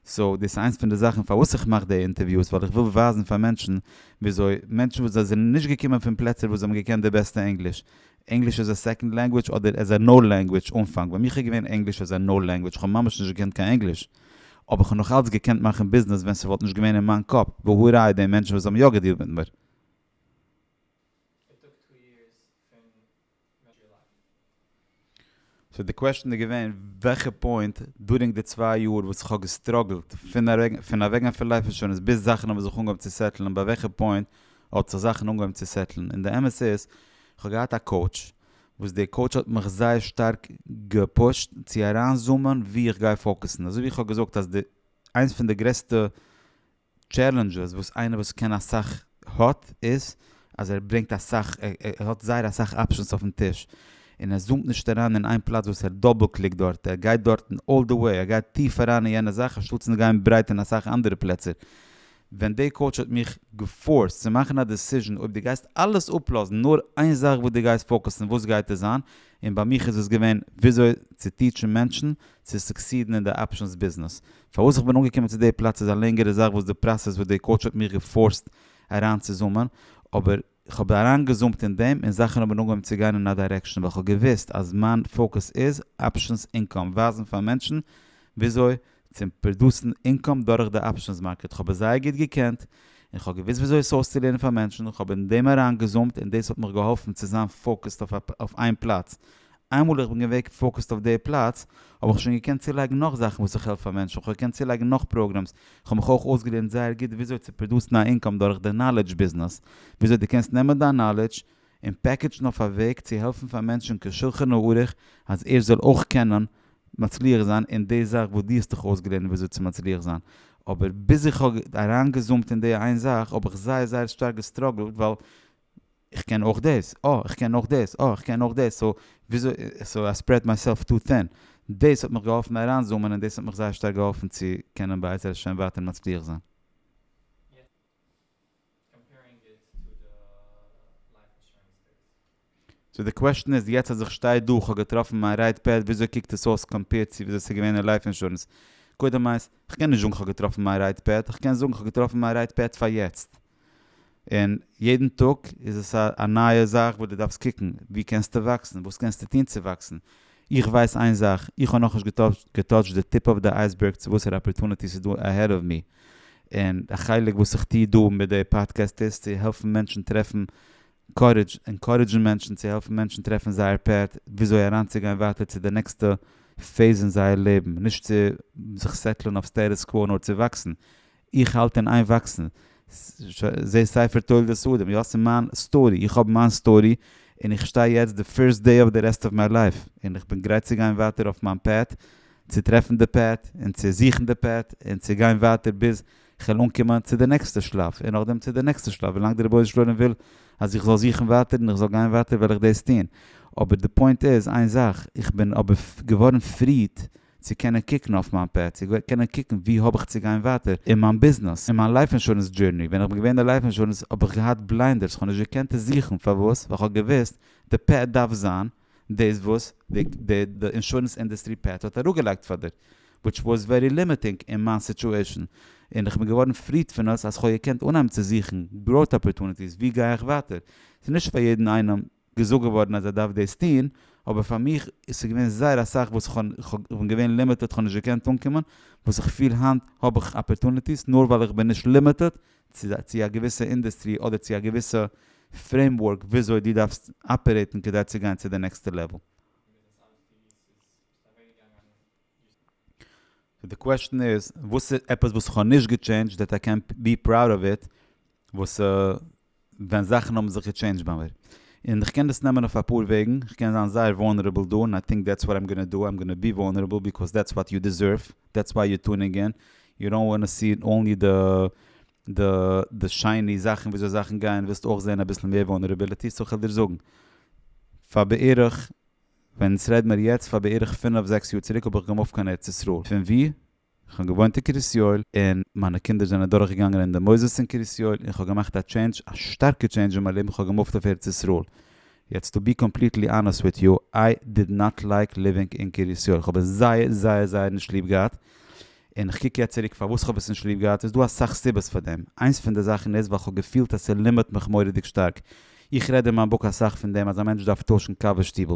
סאו דאס איז איינס פון די זאכן פארוואס איך מאך די אינטערוויוס ווייל איך וויל ווייזן פאר מענטשן וויאזוי מענטשן וואס זיי זענען נישט געקומען פון פלעצער וואס זיי האבן געקענט די בעסטע ענגליש, ענגליש עז א סעקאנד לענגוויטש אדער עז א נאו לענגוויטש אנפאנג ביי מיך איז געווען ענגליש עז א נאו לענגוויטש כ'האב ממש נישט געקענט קיין ענגליש אבער כ'האב נאך אלץ געקענט מאכן ביזנעס ווען ס'וואלט נישט געווען אין מיין קאפ והא ראי' די מענטשן וואס האבן יא געדילט מיט מיר. סאו די קוועשטען איז געווען וועלכע פוינט דורינג די צוויי יאר וואס איך האב געסטראגלט פון אוועקגיין פון לייף אינשורענס ביז זאכן האבן זיך אנגעהויבן צו סעטלען ביי וועלכע פוינט האט זיך זאכן אנגעהויבן צו סעטלען און די אמת איז כ'האב געהאט א קאוטש וואס די קאוטש האט מיך זייער שטארק געפושט צו אריינזומען ווי איך גיי פאוקעסן אזוי ווי איך האב געזאגט אז די איינס פון די גרעסטע טשעלענדזשעס וואס איינער וואס קען אסאך האט איז אז ער ברענגט אסאך ער האט זייער אסאך אפשענס אויפן טיש און ער זומט נישט אריין אין איין פלאץ וואס ער דאבל קליקט דארט ער גייט דארטן אלל די וועי ער גייט טיף אריין אין יענע זאך אנשטאט צו גיין ברייט אין אסאך אנדערע פלעצער ווען די קאוטש האט מיך געפארסט צו מאכן א דעסיזשען אויב די גייסט אלעס אפלאזן נאר איין זאך וואס די גייסט פאוקעסן וואס גייט עס זיין און ביי מיך איז עס געווען וויאזוי צו טיטשן מענטשן צו סוקסידן אין די אפשענס ביזנעס פארוואס איך בין אנגעקומען צו די פלאץ איז א לענגערע זאך וואס די פראסעס וואס די קאוטש האט מיך געפארסט אריין צו זומען, אבער כ'האב אריינגעזומט אין דעם און זאכן האבן אנגעהויבן צו גיין אין א דירעקשאן ווייל כ'האב געוואוסט אז מיין פאוקוס איז אפשענס אינקאם, ווייזן פאר מענטשן וויאזוי צו פראדוסן אינקאם דורך די אפשענס מארקעט, כ'האב עס זייער גוט געקענט און כ'האב געוואוסט וויאזוי עס אויסצולערנען פאר מענטשן, כ'האב אין דעם אריינגעזומט און דאס האט מיך געהאלפן צו זיין פאוקוסד אויף איין פלאץ איינמאל איך בין געוועג פאוקעסט אויף די פלאץ האב איך שוין געקענט צולייגן נאך זאכן וואס איך העלף פאר מענטשן, איך האב געקענט צולייגן נאך פראגרעמס, איך האב מיך אויך אויסגעלערנט זייער גוט וויאזוי צו פראדוסן א אינקאם דורך די נאלעדזש ביזנעס, וויאזוי דו קענסט נעמען דיין נאלעדזש און פעקעדזשן אויף א וועג צו העלפן פאר מענטשן כשולחן הערוך אז ער זאל אויך קענען מצליח זיין אין די זאך וואס דו האסט דיך אויסגעלערנט וויאזוי צו מצליח זיין, אבער ביז איך האב אריינגעזומט אין די איין זאך האב איך זייער זייער שטארק געסטראגלט ווייל. איך קען אויך דאס, אה, איך קען אויך דאס, אה, איך קען אויך דאס, סאו וויאזוי, סאו איי ספרעד מייסעלף טו טין, דאס האט מיך געהאלפן אריינזומען און דאס האט מיך זייער שטארק געהאלפן צו קענען בעזר השם ווייטער מצליח זיין. סאו די קוועשטען איז יעצט אז איך שטיי דא, כ'האב געטראפן מיין רעיט פעד, וויאזוי קוקט עס אויס קאמפעירד צו וויאזוי ס'איז געווען אין לייף אינשורענס? קודם איינס, כ'קען נישט זאגן כ'האב געטראפן מיין רעיט פעד, כ'קען זאגן כ'האב געטראפן מיין רעיט פעד פאר יעצט. און יעדן טאג איז עס א נייע זאך וואס דו דארפסט קוקן וואו קענסטו וואקסן, וואס קענסטו טון צו וואקסן, איך ווייס איין זאך, איך האב נאכנישט געטאטשט די טיפ אוו די אייסבערג צו וואסערע אפערטוניטיס איז דא אהעד אוו מי, און א חלק וואס איך טוה דא מיט די פאדקעסט איז צו העלפן מענטשן טרעפן קארעדזש, ענקארעדזשן מענטשן צו העלפן מענטשן טרעפן זייער פעט וויאזוי אריינצוגיין ווייטער צו די נעקסטע פעיז אין זייער לעבן, נישט צו זיך סעטלען אויף סטעטוס קווא נאר צו וואקסן, איך האלט אין איין וואקסן, זע ספר תולדות אדם, יא ס'איז מיין סטארי, איך האב מיין סטארי, און איך שטיי יעצט די פירסט דעי אוו די רעסט אוו מיי לייף, און איך בין גרייט צו גיין ווייטער אויף מיין פעט, צו טרעפן די פעט, און צו זוכן די פעט, און צו גיין ווייטער ביז כ'וועל אנקומען צו די נעקסטע שלב, און נאכדעם צו די נעקסטע שלב, ווילאנג דער רבונו של עולם וויל אז איך זאל זוכן ווייטער און איך זאל גיין ווייטער וועל איך דאס טון, אבער די פוינט איז איין זאך, איך בין אבער געווארן פריד, צו קענען קוקן אויף מיין פעט, צו קענען קוקן וואו האב איך צו גיין ווייטער אין מיין ביזנעס, אין מיין לייף אינשורענס דזשורני, ווען איך בין געווען אין די לייף אינשורענס האב איך געהאט בליינדערס, איך האב נישט געקענט עס זוכן, פארוואס? ווייל איך האב געוואוסט די פעט דארף זיין דאס וואס די אינשורענס אינדוסטרי פעט האט אראפגעלייגט פאר דיר, וויטש וואס ווערי לימיטינג אין מיין סיטואשען, און איך בין געווארן פריד פון עס אז איך האב געקענט אנהייבן צו זוכן גראוט אפערטוניטיס, וואו גיי איך ווייטער, ס'איז נישט פאר יעדן איינעם. געזאגט געווארן אז ער דארף דאס טון, אבער פאר מיך איז עס געווען זייער אסאך וואס איך האב, איך בין געווען לימיטעד איך האב נישט געקענט אנקומען, וואס איך פיל היינט האב איך אפערטוניטיס נאר ווייל איך בין נישט לימיטעד צו א געוויסע אינדעסטרי אדער צו א געוויסע פרעימווארק וויאזוי דו דארפסט אפערעיטן כדי צו גיין צו די נעקסטע לעוועל. סאו די קוועשן איז וואס איז עפעס וואס איך האב נישט געטשעינדזשט דעט איי קען בי פראוד אוו איט וואס ווען זאכן האבן זיך געטשעינדזשט ביי מיר און איך קען דאס נעמען אויף אפאר וועגן איך קען זיין זייער וואלנערעבל דא און איי טינק דעטס וואט איים גאנא דא איים גאנא בי וואלנערעבל ביקאוז דעטס וואט יו דיזערוו דעטס וויי יו טונינג אין יו דאנט וואנא סי אנלי די די די שייני זאכן וויאזוי זאכן גייען ווילסט אויך זעהן אביסל מער וואלנערעבילעטי סאו איך וועל דיר זאגן פאר בערך ווען ס'רעד מיר יעצט פאר בערך פינעף זעקס יאר צוריק האב איך געמופט קיין ארץ ישראל, פון ווי? איך האב געוואוינט אין קרית יואל און מיינע קינדער זענען דורך געגאנגען אין די מוסדות אין קרית יואל און כ'האב געמאכט א טשעינדזש א שטארקע טשעינדזש אין מיין לעבן כ'האב געמופט אויף ארץ ישראל, יעצט טו בי קאמפליטלי אנעסט וויט יו, איי דיד נאט לייק ליווינג אין קרית יואל, כ'האב עס זייער זייער זייער נישט ליב געהאט, און איך קוק יעצט צוריק פארוואס איך האב עס נישט ליב געהאט, איז דא אסאך סיבות פאר דעם, איינס פון די זאכן איז ווייל איך האב געפילט אז ס'לימערט מיך מורא'דיג שטארק, איך רעד אין מיין בוק אסאך פון דעם אז א מענטש דארף טוישן קאווע שטיבל,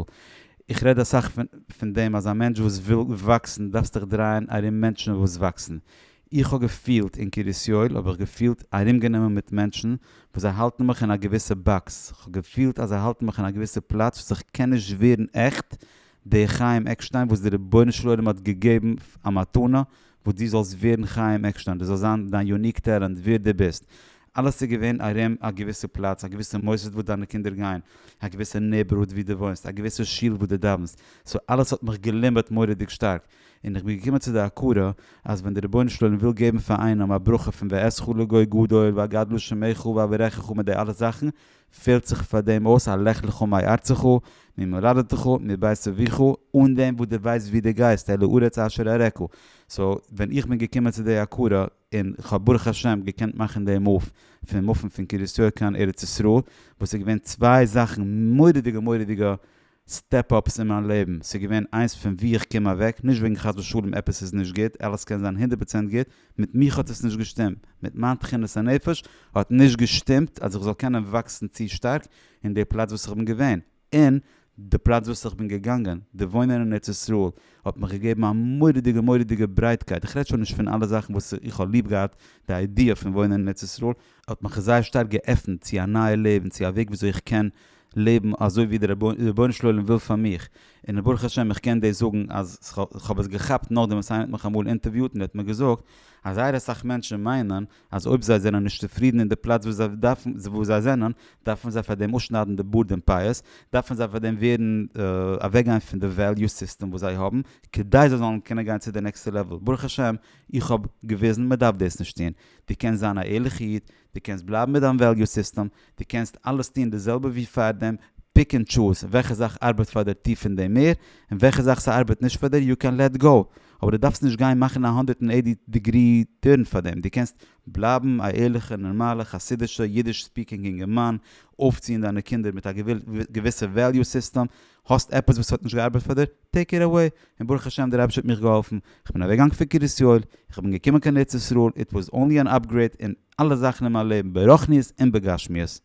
איך רעד אסאך פון דעם אז א מענטש וואס וויל וואקסן דארפסט דיך דרייען ארום מענטשן וואס וואקסן, איך האב געפילט אין קרית יואל האב איך געפילט ארומגענומען מיט מענטשן וואס זיי האלטן מיך אין א געוויסע באקס, איך האב געפילט אז זיי האלטן מיך אין א געוויסע פלאץ וואס איך קען נישט ווערן עכט דער חיים עקשטיין וואס דער רבונו של עולם האט געגעבן א מתנה וואס דו זאלסט ווערן חיים עקשטיין, דאס זאל זיין דיין יוניק טעלענט ווער דו ביסט, אלעס איז געווען ארום א געוויסע פלאץ, א געוויסע מוסד וואס דיינע קינדער גייען, א געוויסע נעיבערהוד ווי דו וואוינסט, א געוויסע שול וואס דו דאווענסט, סאו אלעס האט מיך געלימבעט מורא'דיג שטארק, און איך בין געקומען צו די הכרה אז ווען דער רבונו של עולם וויל געבן פאר איינעם א ברכה פון ואעשך לגוי גדול ואגדל שמך ואברכך מיט די אלע זאכן, פעלט זיך פאר דעם אויס א לך לך מארצך ממולדתך מבית אביך אן דעם וואס דו ווייסט וואו דו גייסט אל הארץ אשר אראך, סאו ווען איך בין געקומען צו די הכרה און כ'האב ברוך השם געקענט מאכן די מאוו פון מופן פון קרית יואל קיין ארץ ישראל וואס איז געווען צוויי זאכן מורא'דיגע מורא'דיגע סטעפ אפס אין מיין לעבן, ס'איז געווען איינס פון וואו איך קום אוועק, נישט וועגן חס ושלום עפעס איז נישט גוט, אלעס קען זיין הונדערט פראצענט גוט, מיט מיך האט עס נישט געשטימט, מיט מיין תכונת הנפש האט נישט געשטימט אז איך זאל קענען וואקסן צו שטארק אין די פלאץ וואס איך בין געווען, און די פלאץ וואס איך בין געגאנגען, די וואוינען אין ארץ ישראל האט מיך געגעבן א מורא'דיגע מורא'דיגע ברייטקייט, איך רעד שוין נישט פון אלע זאכן וואס איך האב ליב געהאט, די איידיע פון וואוינען אין ארץ ישראל האט מיך זייער שטארק געעפנט צו א נייע לעבן, צו א וועג וויאזוי איך קען לעבן אזוי ווי דער רבונו של עולם וויל פאר מיך, און ברוך השם איך קען דאס זאגן אז איך האב עס געכאפט נאכדעם וואס איינער האט מיך אמאל אינטערוויוט און ער האט מיר געזאגט אז זייער אסאך מענטשן מיינען אז אויב זיי זענען נישט צופרידן אין די פלאץ וואו זיי זענען דארפן זיי פאר דעם אפשניידן די בארד און פאות, דארפן זיי פאר דעם ווערן אוועקגיין פון די וועליו סיסטעם וואס זיי האבן כדי זיי זאלן קענען גיין צו די נעקסטע לעוועל, ברוך השם איך האב געוויזן מען דארף דאס נישט טון, דו קענסט זיין א ערליכע איד, דו קענסט בלייבן מיט דיין וועליו סיסטעם, דו קענסט אלעס טון די זעלבע ווי פארדעם, פיק ענד טשוז וועלכע זאך ארבעט פאר דיר טו פון דעם מער, און וועלכע זאך ס'ארבעט נישט פאר דיר יו קען לעט גאו, אבער דו דארפסט נישט גיין מאכן א הונדערט און עיטי דעגרי טורן פאר דעם, דו קענסט בלייבן א ערליכע נארמאלע חסידישע אידיש ספיקינג אינגערמאן, אויפציען דיינע קינדער מיט א געוויסע וועליו סיסטעם, האסט עפעס וואס האט נישט געארבעט פאר דיר? טעיק איט אוועי! און ברוך השם דער אייבערשטער האט מיך געהאלפן, איך בין אוועק געגאנגען פון קרית יואל, איך בין געקומען קיין ארץ ישראל, איט וואס אנלי אן אפגרעיד אין אלע זאכן אין מיין לעבן ברוחניות און בגשמיות.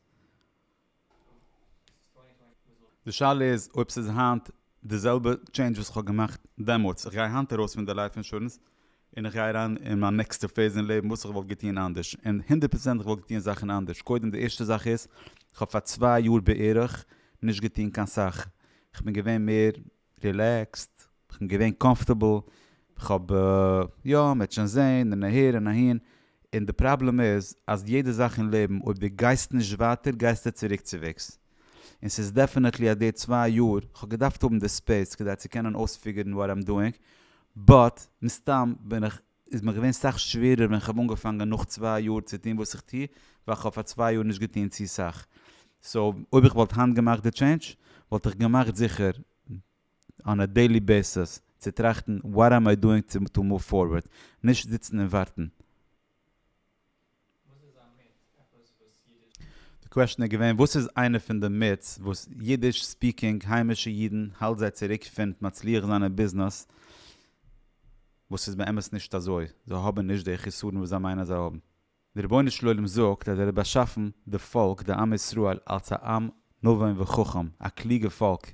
די שאלה איז אויב ס'איז היינט די זעלבע טשעינדזש וואס כ'האב געמאכט דעמאלטס, איך גיי היינט ארויס פון די לייף אינשורענס און איך גיי אריין אין מיין נעקסטע פעיז אין לעבן וואס איך וואלט געטון אנדערש, און הונדערט פראצענט איך וואלט געטון זאכן אנדערש, קודם די ערשטע זאך איז, איך האב פאר צוויי יאר בערך נישט געטון קיין סאך, איך בין געווען מער רילעקסד, איך בין געווען קאמפארטעבל, איך האב יא מען וועט שוין זעהן און אהער און אהין, און די פראבלעם איז אז יעדע זאך אין לעבן אויב די גייסט נישט ווייטער גייסטו צוריק צו וועגס, און ס'איז דעפענעטלי אז די צוויי יאר, כ'האב געדארפט האבן די ספעיס כדי צו קענען אויספיגערן וואט איים דואינג, באט מסתם בין איך, איז מיר געווען סאך שווערער ווען כ'האב אנגעפאנגען נאך צוויי יאר צו טון וואס איך טו, ווייל כ'האב פאר צוויי יאר נישט געטון צו סאך. סאו אויב איך וואלט היינט געמאכט די טשעינדזש, וואלט איך געמאכט זיכער אן א דעילי בעיסעס צו טראכטן וואט איים איי דואינג טו מאוו פארווערד, נישט זיצן און ווארטן. וואס איז א מיט עפעס וואס אידיש. די קוועשטען איז געווען וואס איז איינע פון די מיטס וואס אידיש ספיקינג היימישע אידן האלט זיי צוריק פין מצליח זיין אין ביזנעס וואס איז באמת נישט אזוי זיי האבן נישט די חיסרון וואס זיי מיינען אז זיי האבן. די רבונו של עולם זאגט אז ער האט באשאפן די פאלק די עם ישראל אלץ א עם נבון וחכם א קלוגע פאלק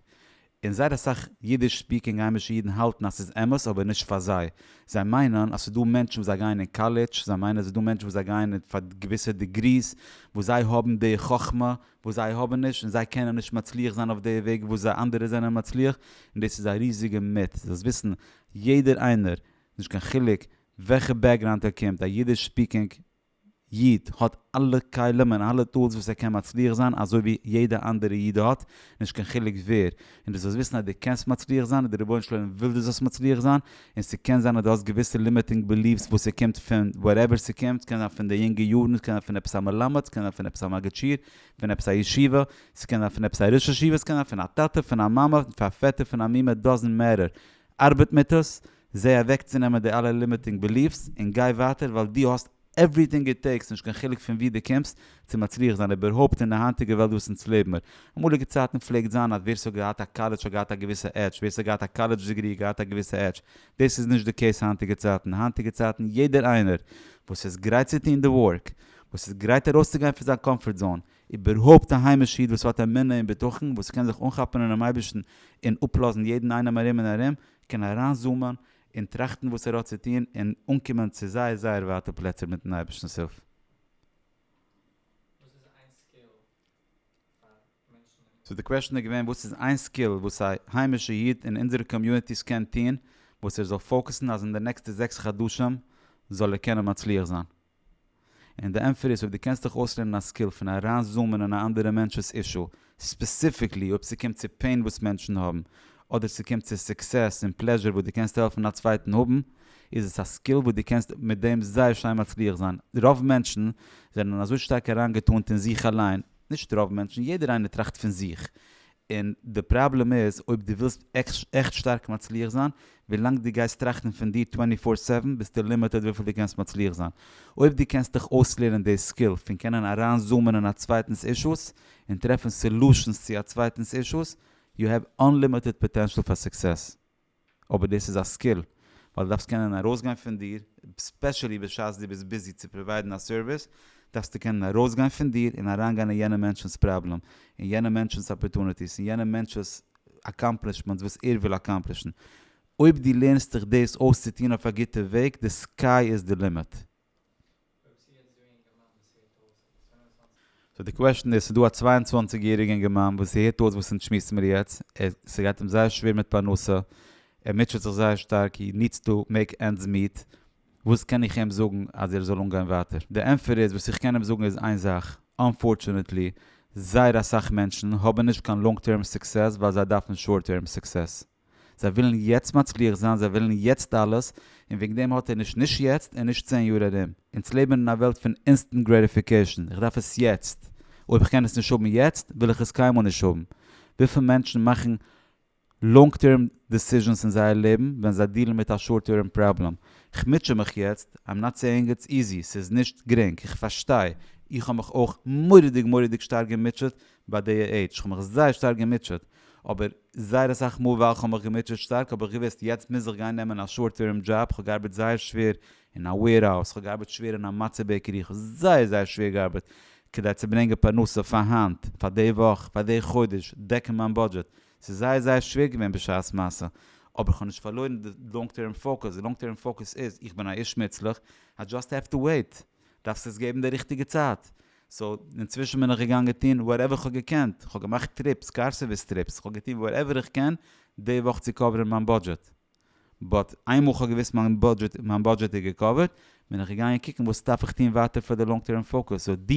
און זייער אסאך אידיש ספיקינג היימישע אידן האלטן אז ס'איז אמת אבער נישט פאר זיי. זיי מיינען אז ס'איז דא מענטשן וואס זיי גייען אין קאלעדזש, זיי מיינען אז ס'איז דא מענטשן וואס זיי גייען פאר געוויסע דעגריס וואס זיי האבן די חכמה וואס זיי האבן נישט און זיי קענען נישט מצליח זיין אויף די וועג וואס זיי אנדערע זענען מצליח און דאס איז א ריזיגע מיט. דאס וויסן יעדער איינער נישט קיין חילוק וועלכע בעקגראונד ער קומט א אידיש ספיקינג איד האט אלע כלים און אלע טולס וואס ער קען מצליח זיין אזוי ווי יעדע אנדערע איד האט, נישט קיין חילוק ווער, און דו זאלסט וויסן אז דו קענסט מצליח זיין און דער רבונו של עולם וויל דו זאלסט מצליח זיין, און ס'קען זיין אז דו האסט געוויסע לימיטינג בעליווס וואס ס'קומט פון וואטעווער ס'קומט, ס'קען זיין פון די יונגע יארן, ס'קען זיין פון עפעס א מלמד, ס'קען זיין פון עפעס א מגיד שיעור, פון עפעס א ישיבה, ס'קען זיין פון עפעס א ראש ישיבה, ס'קען זיין פון א טאטע, פון א מאמע, פון א פעטער, פון א מומע, דאזענט מעטער, ארבעט מיט עס, זעה אוועקצונעמען די אלע לימיטינג בעליף'ס און גיי ווייטער ווייל דו האסט עווריטינג איט טעיקס נישט קיין חילוק פון ווי דו קומסט צו מצליח זיין איבערהויפט אין די היינטיגע וועלט וואס אונז לעב מיר. אמאליגע צייטן פלעגט זיין אז ווער ס'האט געהאט א קאלעדזש האט געהאט א געוויסע עדזש, ווער ס'האט געהאט א קאלעדזש דעגרי האט געהאט א געוויסע עדזש, דאס איז נישט די קעיס היינטיגע צייטן, היינטיגע צייטן יעדער איינער וואס איז גרייט צו טון די ווארק, וואס איז גרייט ארויסצוגיין פון זיין קאמפארט זאון, איבערהויפט א היימישע איד וואס האט אמונה און בטחון, וואס קען זיך אנכאפן אינעם אייבערשטן און אפלאזן יעדן איינעם ארום און ארום, קען אריינזומען און טראכטן וואס ער האט צו טון און אנקומען צו זייער זייער ווייטע פלעצער מיט'ן אייבערשטנ'ס הילף. סאו די קוועשן איז געווען וואס איז איין סקיל וואס א היימישע איד אין אונזערע קאמיוניטיס קען טון וואס ער זאל פאוקעסן אז אין די נעקסטע זעקס חדשים זאל ער קענען מצליח זיין? און די ענטפער איז אויב דו קענסט דיך אויסלערנען א סקיל פון אריין זומען אין א אנדערע מענטש'ס אישו, ספעסיפיקלי אויב ס'קומט צו פעין וואס מענטשן האבן, אדער ס'קומט צו סוקסעס און פלעזשור וואס דו קענסט העלפן א צווייטן האבן, איז עס א סקיל וואס דו קענסט מיט דעם זייער שיין מצליח זיין. רוב מענטשן זענען אזוי שטארק אריינגעטאנט אין זיך אליין, נישט רוב מענטשן, יעדער איינער טראכט פון זיך, און די פראבלעם איז אויב דו ווילסט עכט שטארק מצליח זיין, ווילאנג דו גייסט טראכטן פון דיר טווענטי פאר סעווען ביסטו לימיטעד וויפיל דו קענסט מצליח זיין. אויב דו קענסט דיך אויסלערנען די סקיל פון קענען אריינזומען אין א צווייטנס אישוס און טרעפן סעלושענס צו א צווייטנס אישוס, יו העוו אנלימיטעד פאטענשאל פאר סוקסעס. אבער דאס איז א סקיל ווייל דו דארפסט קענען ארויסגיין פון דיר, ספעשעלי בשעת דו ביסט ביזי צו פראוויידן א סערוויס, דארפסטו קענען ארויסגיין פון דיר און אריינגיין אין יענעם מענטש'נס פראבלעם, אין יענעם מענטש'נס אפערטוניטיס, אין יענעם מענטש'ס אקאמפלישמענטס וואס ער וויל אקאמפלישן. אויב דו לערנסט דיך דאס אויס צו טון אויף א גוטע וועג, די סקיי איז די לימיט. סאו די קוועשן איז ס'דא א צוויי און צוואַנציק יעריגע אינגערמאן וואס ס'הערט אויס וואס אונז שמועסן מיר יעצט ער ס'גייט אים זייער שווער מיט פרנסה ער מוטשעט זיך זייער שטארק הי נידס טא מעיק ענדס מיעט וואס קען איך אים זאגן אז ער זאל אנגיין ווייטער די ענפער איז וואס איך קען אים זאגן איז איין זאך אנפארטשענעטלי זייער אסאך מענטשן האבן נישט קיין לאנג טערם סוקסעס ווייל זיי דארפן שארט טערם סוקסעס. זיי ווילן יעצט מצליח זיין, זיי ווילן יעצט אלעס, און וועגן דעם האט ער נישט נישט יעצט און נישט צען יאר ארום. אונז לעבן אין א וועלט פון אינסטענט גרעטיפיקעישן, איך דארף עס יעצט, אויב איך קען עס נישט האבן יעצט, וויל איך עס קיינמאל נישט האבן. וויפיל מענטשן מאכן לאנג טערם דעסיזשענס אין זייער לעבן ווען זיי דילן מיט א שארט טערם פראבלעם, איך מוטשע מיך יעצט, איים נאט סעיאינג איטס איזי, ס'איז נישט גרינג, איך פארשטיי, איך האב מיך אויך מורא'דיג מורא'דיג שטארק געמוטשעט ביי די עידזש, איך האב מיך זייער שטארק געמוטשעט, אבער זייער אסאך מאל וואכן האב איך געמוטשעט שטארק, האב איך געוואוסט יעצט מוז איך גיין נעמען א שארט טערם דזשאב, כ'האב געארבעט זייער שווער אין א וועירהאוז, כ'האב געארבעט שווער אין א מצה בעקערי, כ'האב זייער זייער שווער געארבעט כדי צו ברענגען פרנסה פאר היינט, פאר די וואך, פאר די חודש, דעקן מיין בודזשעט, ס'איז זייער זייער שווער געווען בשעת מעשה, אבער כ'האב נישט פארלוירן די לאנג טערם פאוקוס, די לאנג טערם פאוקוס איז, איך בין א איש מוצלח, איי דזשאסט העוו טו וועיט. דארפסט עס געבן די ריכטיגע צייט, סאו אינצווישן בין איך געגאנגען טון וואטעווער איך האב געקענט, איך האב געמאכט טריפס, קאר סערוויס טריפס, איך האב געטון וואטעווער איך קען די וואך צו קאווערן מיין בודזשעט, באט איינמאל איך האב געוואוסט מיין בודזשעט איז געקאווערט, בין איך געגאנגען קוקן וואס דארף איך טון ווייטער פאר די לאנג טערם פאוקוס, סאו דו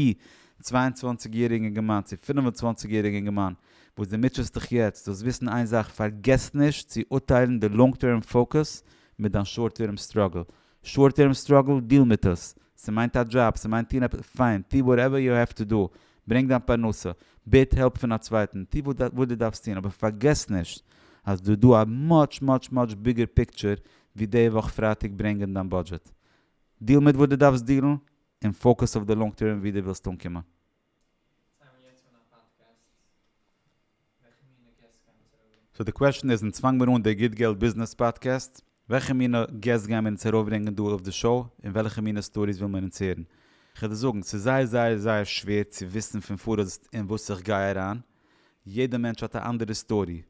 צוויי און צוואַנציק יעריגע אינגערמאן צו פֿינף און צוואַנציק יעריגע אינגערמאן וואס דו מוטשעסט דיך יעצט, זאלסט וויסן איין זאך, פארגעס נישט צו אורטיילן די לאנג טערם פאוקוס מיט דיין שארט טערם סטראגל, שארט טערם סטראגל, דיל מיט עס. ס'מיינט א דזשאב, ס'מיינט טון עפעס, פיין, טו וואטעווער יו העוו טו דא, ברענג דיין פרנסה, בעט העלפ פון א צווייטן, טו וואס דו דארפסט טון, אבער פארגעס נישט אז דא דא א מאטש מאטש מאטש ביגער פיקטשער ווי די וואך פרייטאג ברענגען דיין בודזשעט. דיל מיט וואס דו דארפסט דילן, און פאוקעס אויף די לאנג טערם ווי דו ווילסט אנקומען. זיי האבן יעצט אן א פאדקעסט, וועלכע מינע געסט גייען אונז ארויפברענגען? סאו די קוועשן איז, אונז פאנג מיר אן די גוט געלט ביזנעס פאדקעסט, וועלכע מינע געסט גייען מיר אונז ארויפברענגען דא אויף די שאו, און וועלכע מינע סטאריס וויל מען אונז הערן? כ'וועל דיר זאגן, ס'איז זייער זייער זייער שווער צו וויסן פון פאראויס אין וואס איך גיי אריין, יעדע מענטש האט א אנדערע סטארי,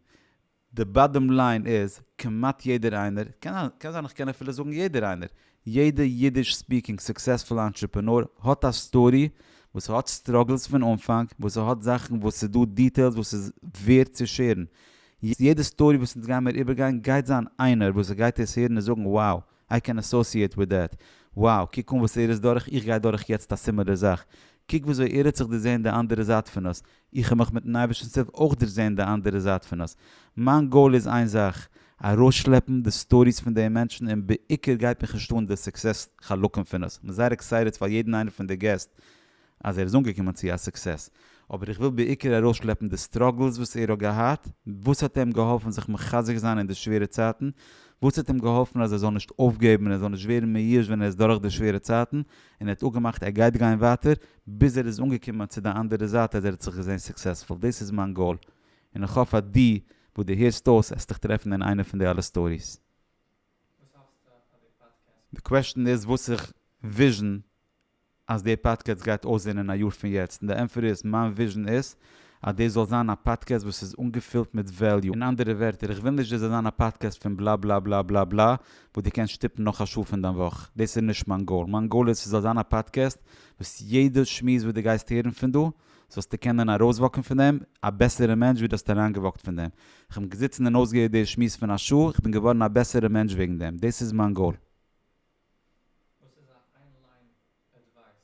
די באדעם ליין איז, כמעט יעדער איינער, קען זיין איך קען אפילו זאגן יעדער איינער, יעדע אידיש ספיקינג סוקסעספול אנטרעפענאר האט א סטארי וואס ס'האט סטראגעלס פון אנפאנג, וואס ס'האט זאכן וואס ס'איז דא דיטעילס וואס איז ווערד צו שעירן. יעדע סטארי וואס אונז גיימיר איבערגיין גייט זיין איינער וואס ס'גייט עס הערן און זאגן wow איי קען אסאסיעט וויט דעט. wow קוק אן וואס ער איז דורך איך גיי דורך יעצט א סימעלער זאך. קוק וויאזוי ער האט זיך דערזעהן די אנדערע זייט פון עס. איך האב מיך מיטן אייבערשטנס הילף אויך דערזעהן די אנדערע זייט פון עס. מיין גאול איז איין זאך, ארויסשלעפן די סטאריס פון די מענטשן און בעיקר גייט מיך נישט אן די סוקסעס חלקים פון עס. כ'בין זייער עקסייטעד פאר יעדן איינער פון די געסט. אז ער איז אנגעקומען צו א סוקסעס, אבער איך וויל בעיקר ארויסשלעפן די סטראגלס וואס ער האט געהאט, וואס האט אים געהאלפן זיך מחזק זיין אין די שווערע צייטן, וואס האט אים געהאלפן אז ער זאל נישט אויפגעבן און ער זאל נישט ווערן מיואש ווען ער איז דורך די שווערע צייטן, און ער האט אפגעמאכט ער גייט גיין ווייטער, ביז ער איז אנגעקומען צו די אנדערע זייט אז ער האט זיך געזען סוקסעספול, דאס איז מיין גאול, און איך האף אז דו וואס דו הערסט אויס העסט דיך טרעפן אין איינע פון די אלע סטאריס. די קוועשטען איז וואס איך וויזשען אז די פאדקעסט גייט אויסזעהן אין א יאר פון יעצט, און די ענפער איז, מיין וויזשען איז אז דאס זאל זיין א פאדקעסט וואס איז אנגעפילט מיט וועליו, אין אנדערע ווערטער איך וויל נישט דאס זאל זיין א פאדקעסט פון בלא בלא בלא בלא בלא וואס דו קענסט שטופן נאך א שעה פון דיין וואך, דאס איז נישט מיין גאול, מיין גאול איז ס'זאל זיין א פאדקעסט וואס יעדע שמועס וואס דו גייסט הערן פון דא זאלסטו קענען ארויסוואקן פון דעם א בעסערע מענטש ווי דו האסט אריינגעוואקט פון דעם, כ'בין געזיצן און אויסגעהערט די שמועס פון א שעה, כ'בין געווארן א בעסערע מענטש וועגן דעם, דאס איז מיין גאול.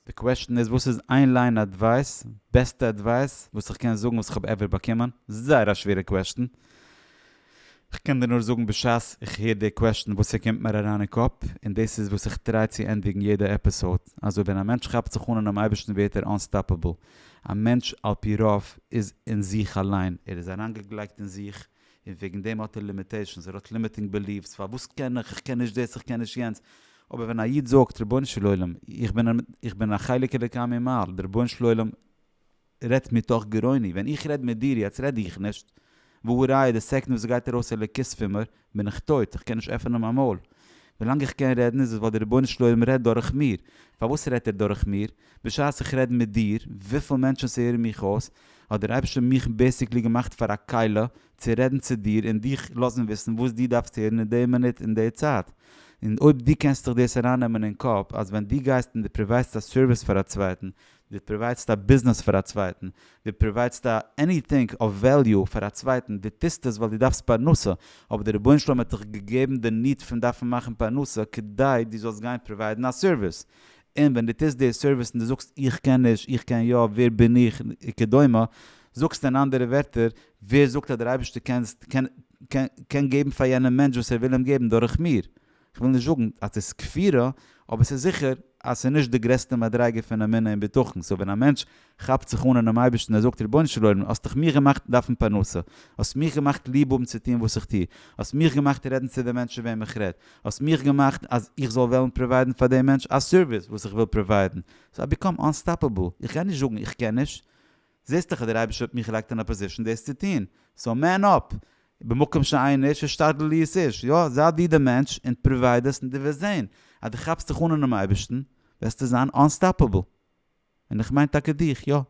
די קוועשטען איז וואס איז איין ליין אדווייס, בעסטע אדווייס וואס איך קען זאגן וואס איך האב עווער באקומען? זייער א שווערע קוועשטען. כ'קען דיר נאר זאגן בשעת איך הער די קוועשטען וואס ס'קומט מיר אריין אין קאפ, און דאס איז וואס איך טריי צו ענדיגן יעדע עפיסאוד, אזוי ווען א מענטש כאפט זיך אן אינעם אייבערשטן ווערט ער אנסטאפעבל. א מענטש על פי רוב איז אין זיך אליין, ער איז אריינגעגלייגט אין זיך, און וועגן דעם האט ער לימיטעישאנס, ער האט לימיטינג בעליווס, פארוואס קען איך, איך קען נישט דאס, איך קען נישט יענץ, אבער ווען א איד זאגט, רבונו של עולם, איך בין א חלק אלוקי ממעל, דער רבונו של עולם רעדט מתוך גרוני, ווען איך רעד מיט דיר יעצט רעד איך נישט, והא ראיה די סעקנד וואס עס גייט ארויס אלוקות פון מיר, בין איך טויט, איך קען נישט עפענען מיין מויל, ווילאנג איך קען רעדן איז עס ווייל דער רבונו של עולם רעדט דורך מיר, פארוואס רעדט ער דורך מיר? בשעת איך רעד מיט דיר, וויפיל מענטשן ס'הערן מיך אויס, האט דער אייבערשטער מיך בעסיקלי געמאכט פאר א כלה צו רעדן צו דיר און דיך לאזן וויסן וואס דו דארפסט הערן אין די מינוט און די צייט. און אויב דו קענסט זיך דאס ארייננעמען אין קאפ אז ווען דו גייסט און דו פראוויידסט א סערוויס פאר א צווייטן, דו פראוויידסט א ביזנעס פאר א צווייטן, דו פראוויידסט א עניטינג אוו וועליו פאר א צווייטן, דו טוסט עס ווייל דו דארפסט פרנסה, אבער דער רבונו של עולם האט דיך געגעבן די ניד פון דארפן מאכן פרנסה כדי דו זאלסט גיין פראוויידן א סערוויס. און ווען דו טוסט די סערוויס און דו זאגסט איך קען נישט, איך קען יא, ווער בין איך, וכדומה, זאגסטו אין אנדערע ווערטער, ווער זאגט אז דער אייבערשטער קען קען געבן פאר יענעם מענטש וואס ער וויל אים געבן דורך מיר? כ'וויל נישט זאגן אז ס'איז כפירה, אבער ס'איז זיכער אז ס'איז נישט די גרעסטע מדריגה פון אמונה און בטחון, סאו ווען א מענטש כאפט זיך אן אינעם אייבערשטן ער זאגט רבונו של עולם האסט דאך מיך געמאכט דארפן פרנסה, האסט מיך געמאכט ליב האבן צו טון וואס איך טו, האסט מיך געמאכט רעדן צו די מענטשן וועם איך רעד, האסט מיך געמאכט אז איך זאל וועלן פראוויידן פאר דעם מענטש א סערוויס וואס איך וויל פראוויידן, סאו איי ביקאם אנסטאפעבל, איך גיי נישט זאגן איך קען נישט, זעסט דאך אז דער אייבערשטער האט מיך געלייגט אין א פאזישן דאס צו טון, סאו מען אפ, במקום שאין איש השתדל להיות איש, יא זיי דו די מענטש און פראווייד עס און דו וועסט זען אז דו כאפסט זיך אן אינעם אייבערשטן וועסטו זיין אנסטאפעבל. און איך מיין טאקע דיך, יא. עני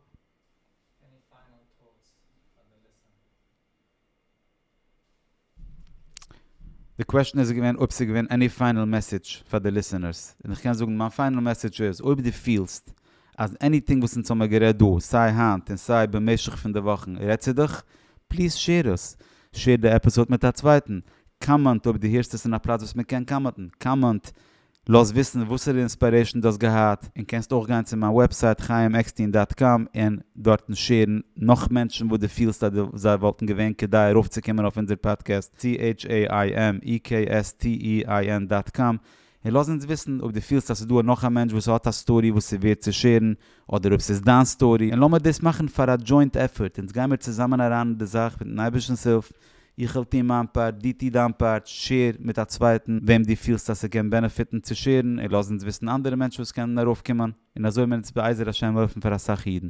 פיינעל טאטס פאר די ליסענער? די קוועשן איז געווען אויב ס'איז געווען עני פיינעל מעסעדזש פאר די ליסענערס, און איך קען זאגן מיין פיינעל מעסעדזש איז, אויב דו פילסט אז עניטינג וואס אונז האמיר גערעדט דא, סיי היינט און סיי במשך פון די וואכן רעדט צו דיך, פליז שעיר עס, שעיר די עפיסאד מיט א צווייטן, קאמענט אויב דו הערסט עס אין א פלאץ וואס מען קען קאמענטן, קאמענט לאז וויסן וואסערע אינספיירעישן דו האסט געהאט, און קענסט אויך גיין צו מיין וועבסייט חיים עקסטין דאט קאם און דארטן שערן נאך מענטשן וואס דו פילסט אז זיי וואלטן געווען כדאי ארויפצוקומען אויף אונזער פאדקעסט צו HAIMEKSTEIN דאט קאם און לאז אונז וויסן אויב דו פילסט אז ס'איז דא נאך א מענטש וואס האט א סטארי וואס איז ווערד צו שערן אדער אויב ס'איז דיין סטארי און לאמיר דאס מאכן פאר א דזשוינט עפפארט אונז גיימיר צוזאמען אריין אין די זאך מיטן אייבערשטנ'ס הילף איך וועל טון מיין פארט, דו טו דיין פארט, שעיר מיט א צווייטן וועם דו פילסט אז ס'קען בענעפיטן צו שעירן, און לאז אונז וויסן אנדערע מענטשן וואס קענען ארויפקומען, און אזוי וועלן אונז בעזר השם העלפן פאר אסאך אידן.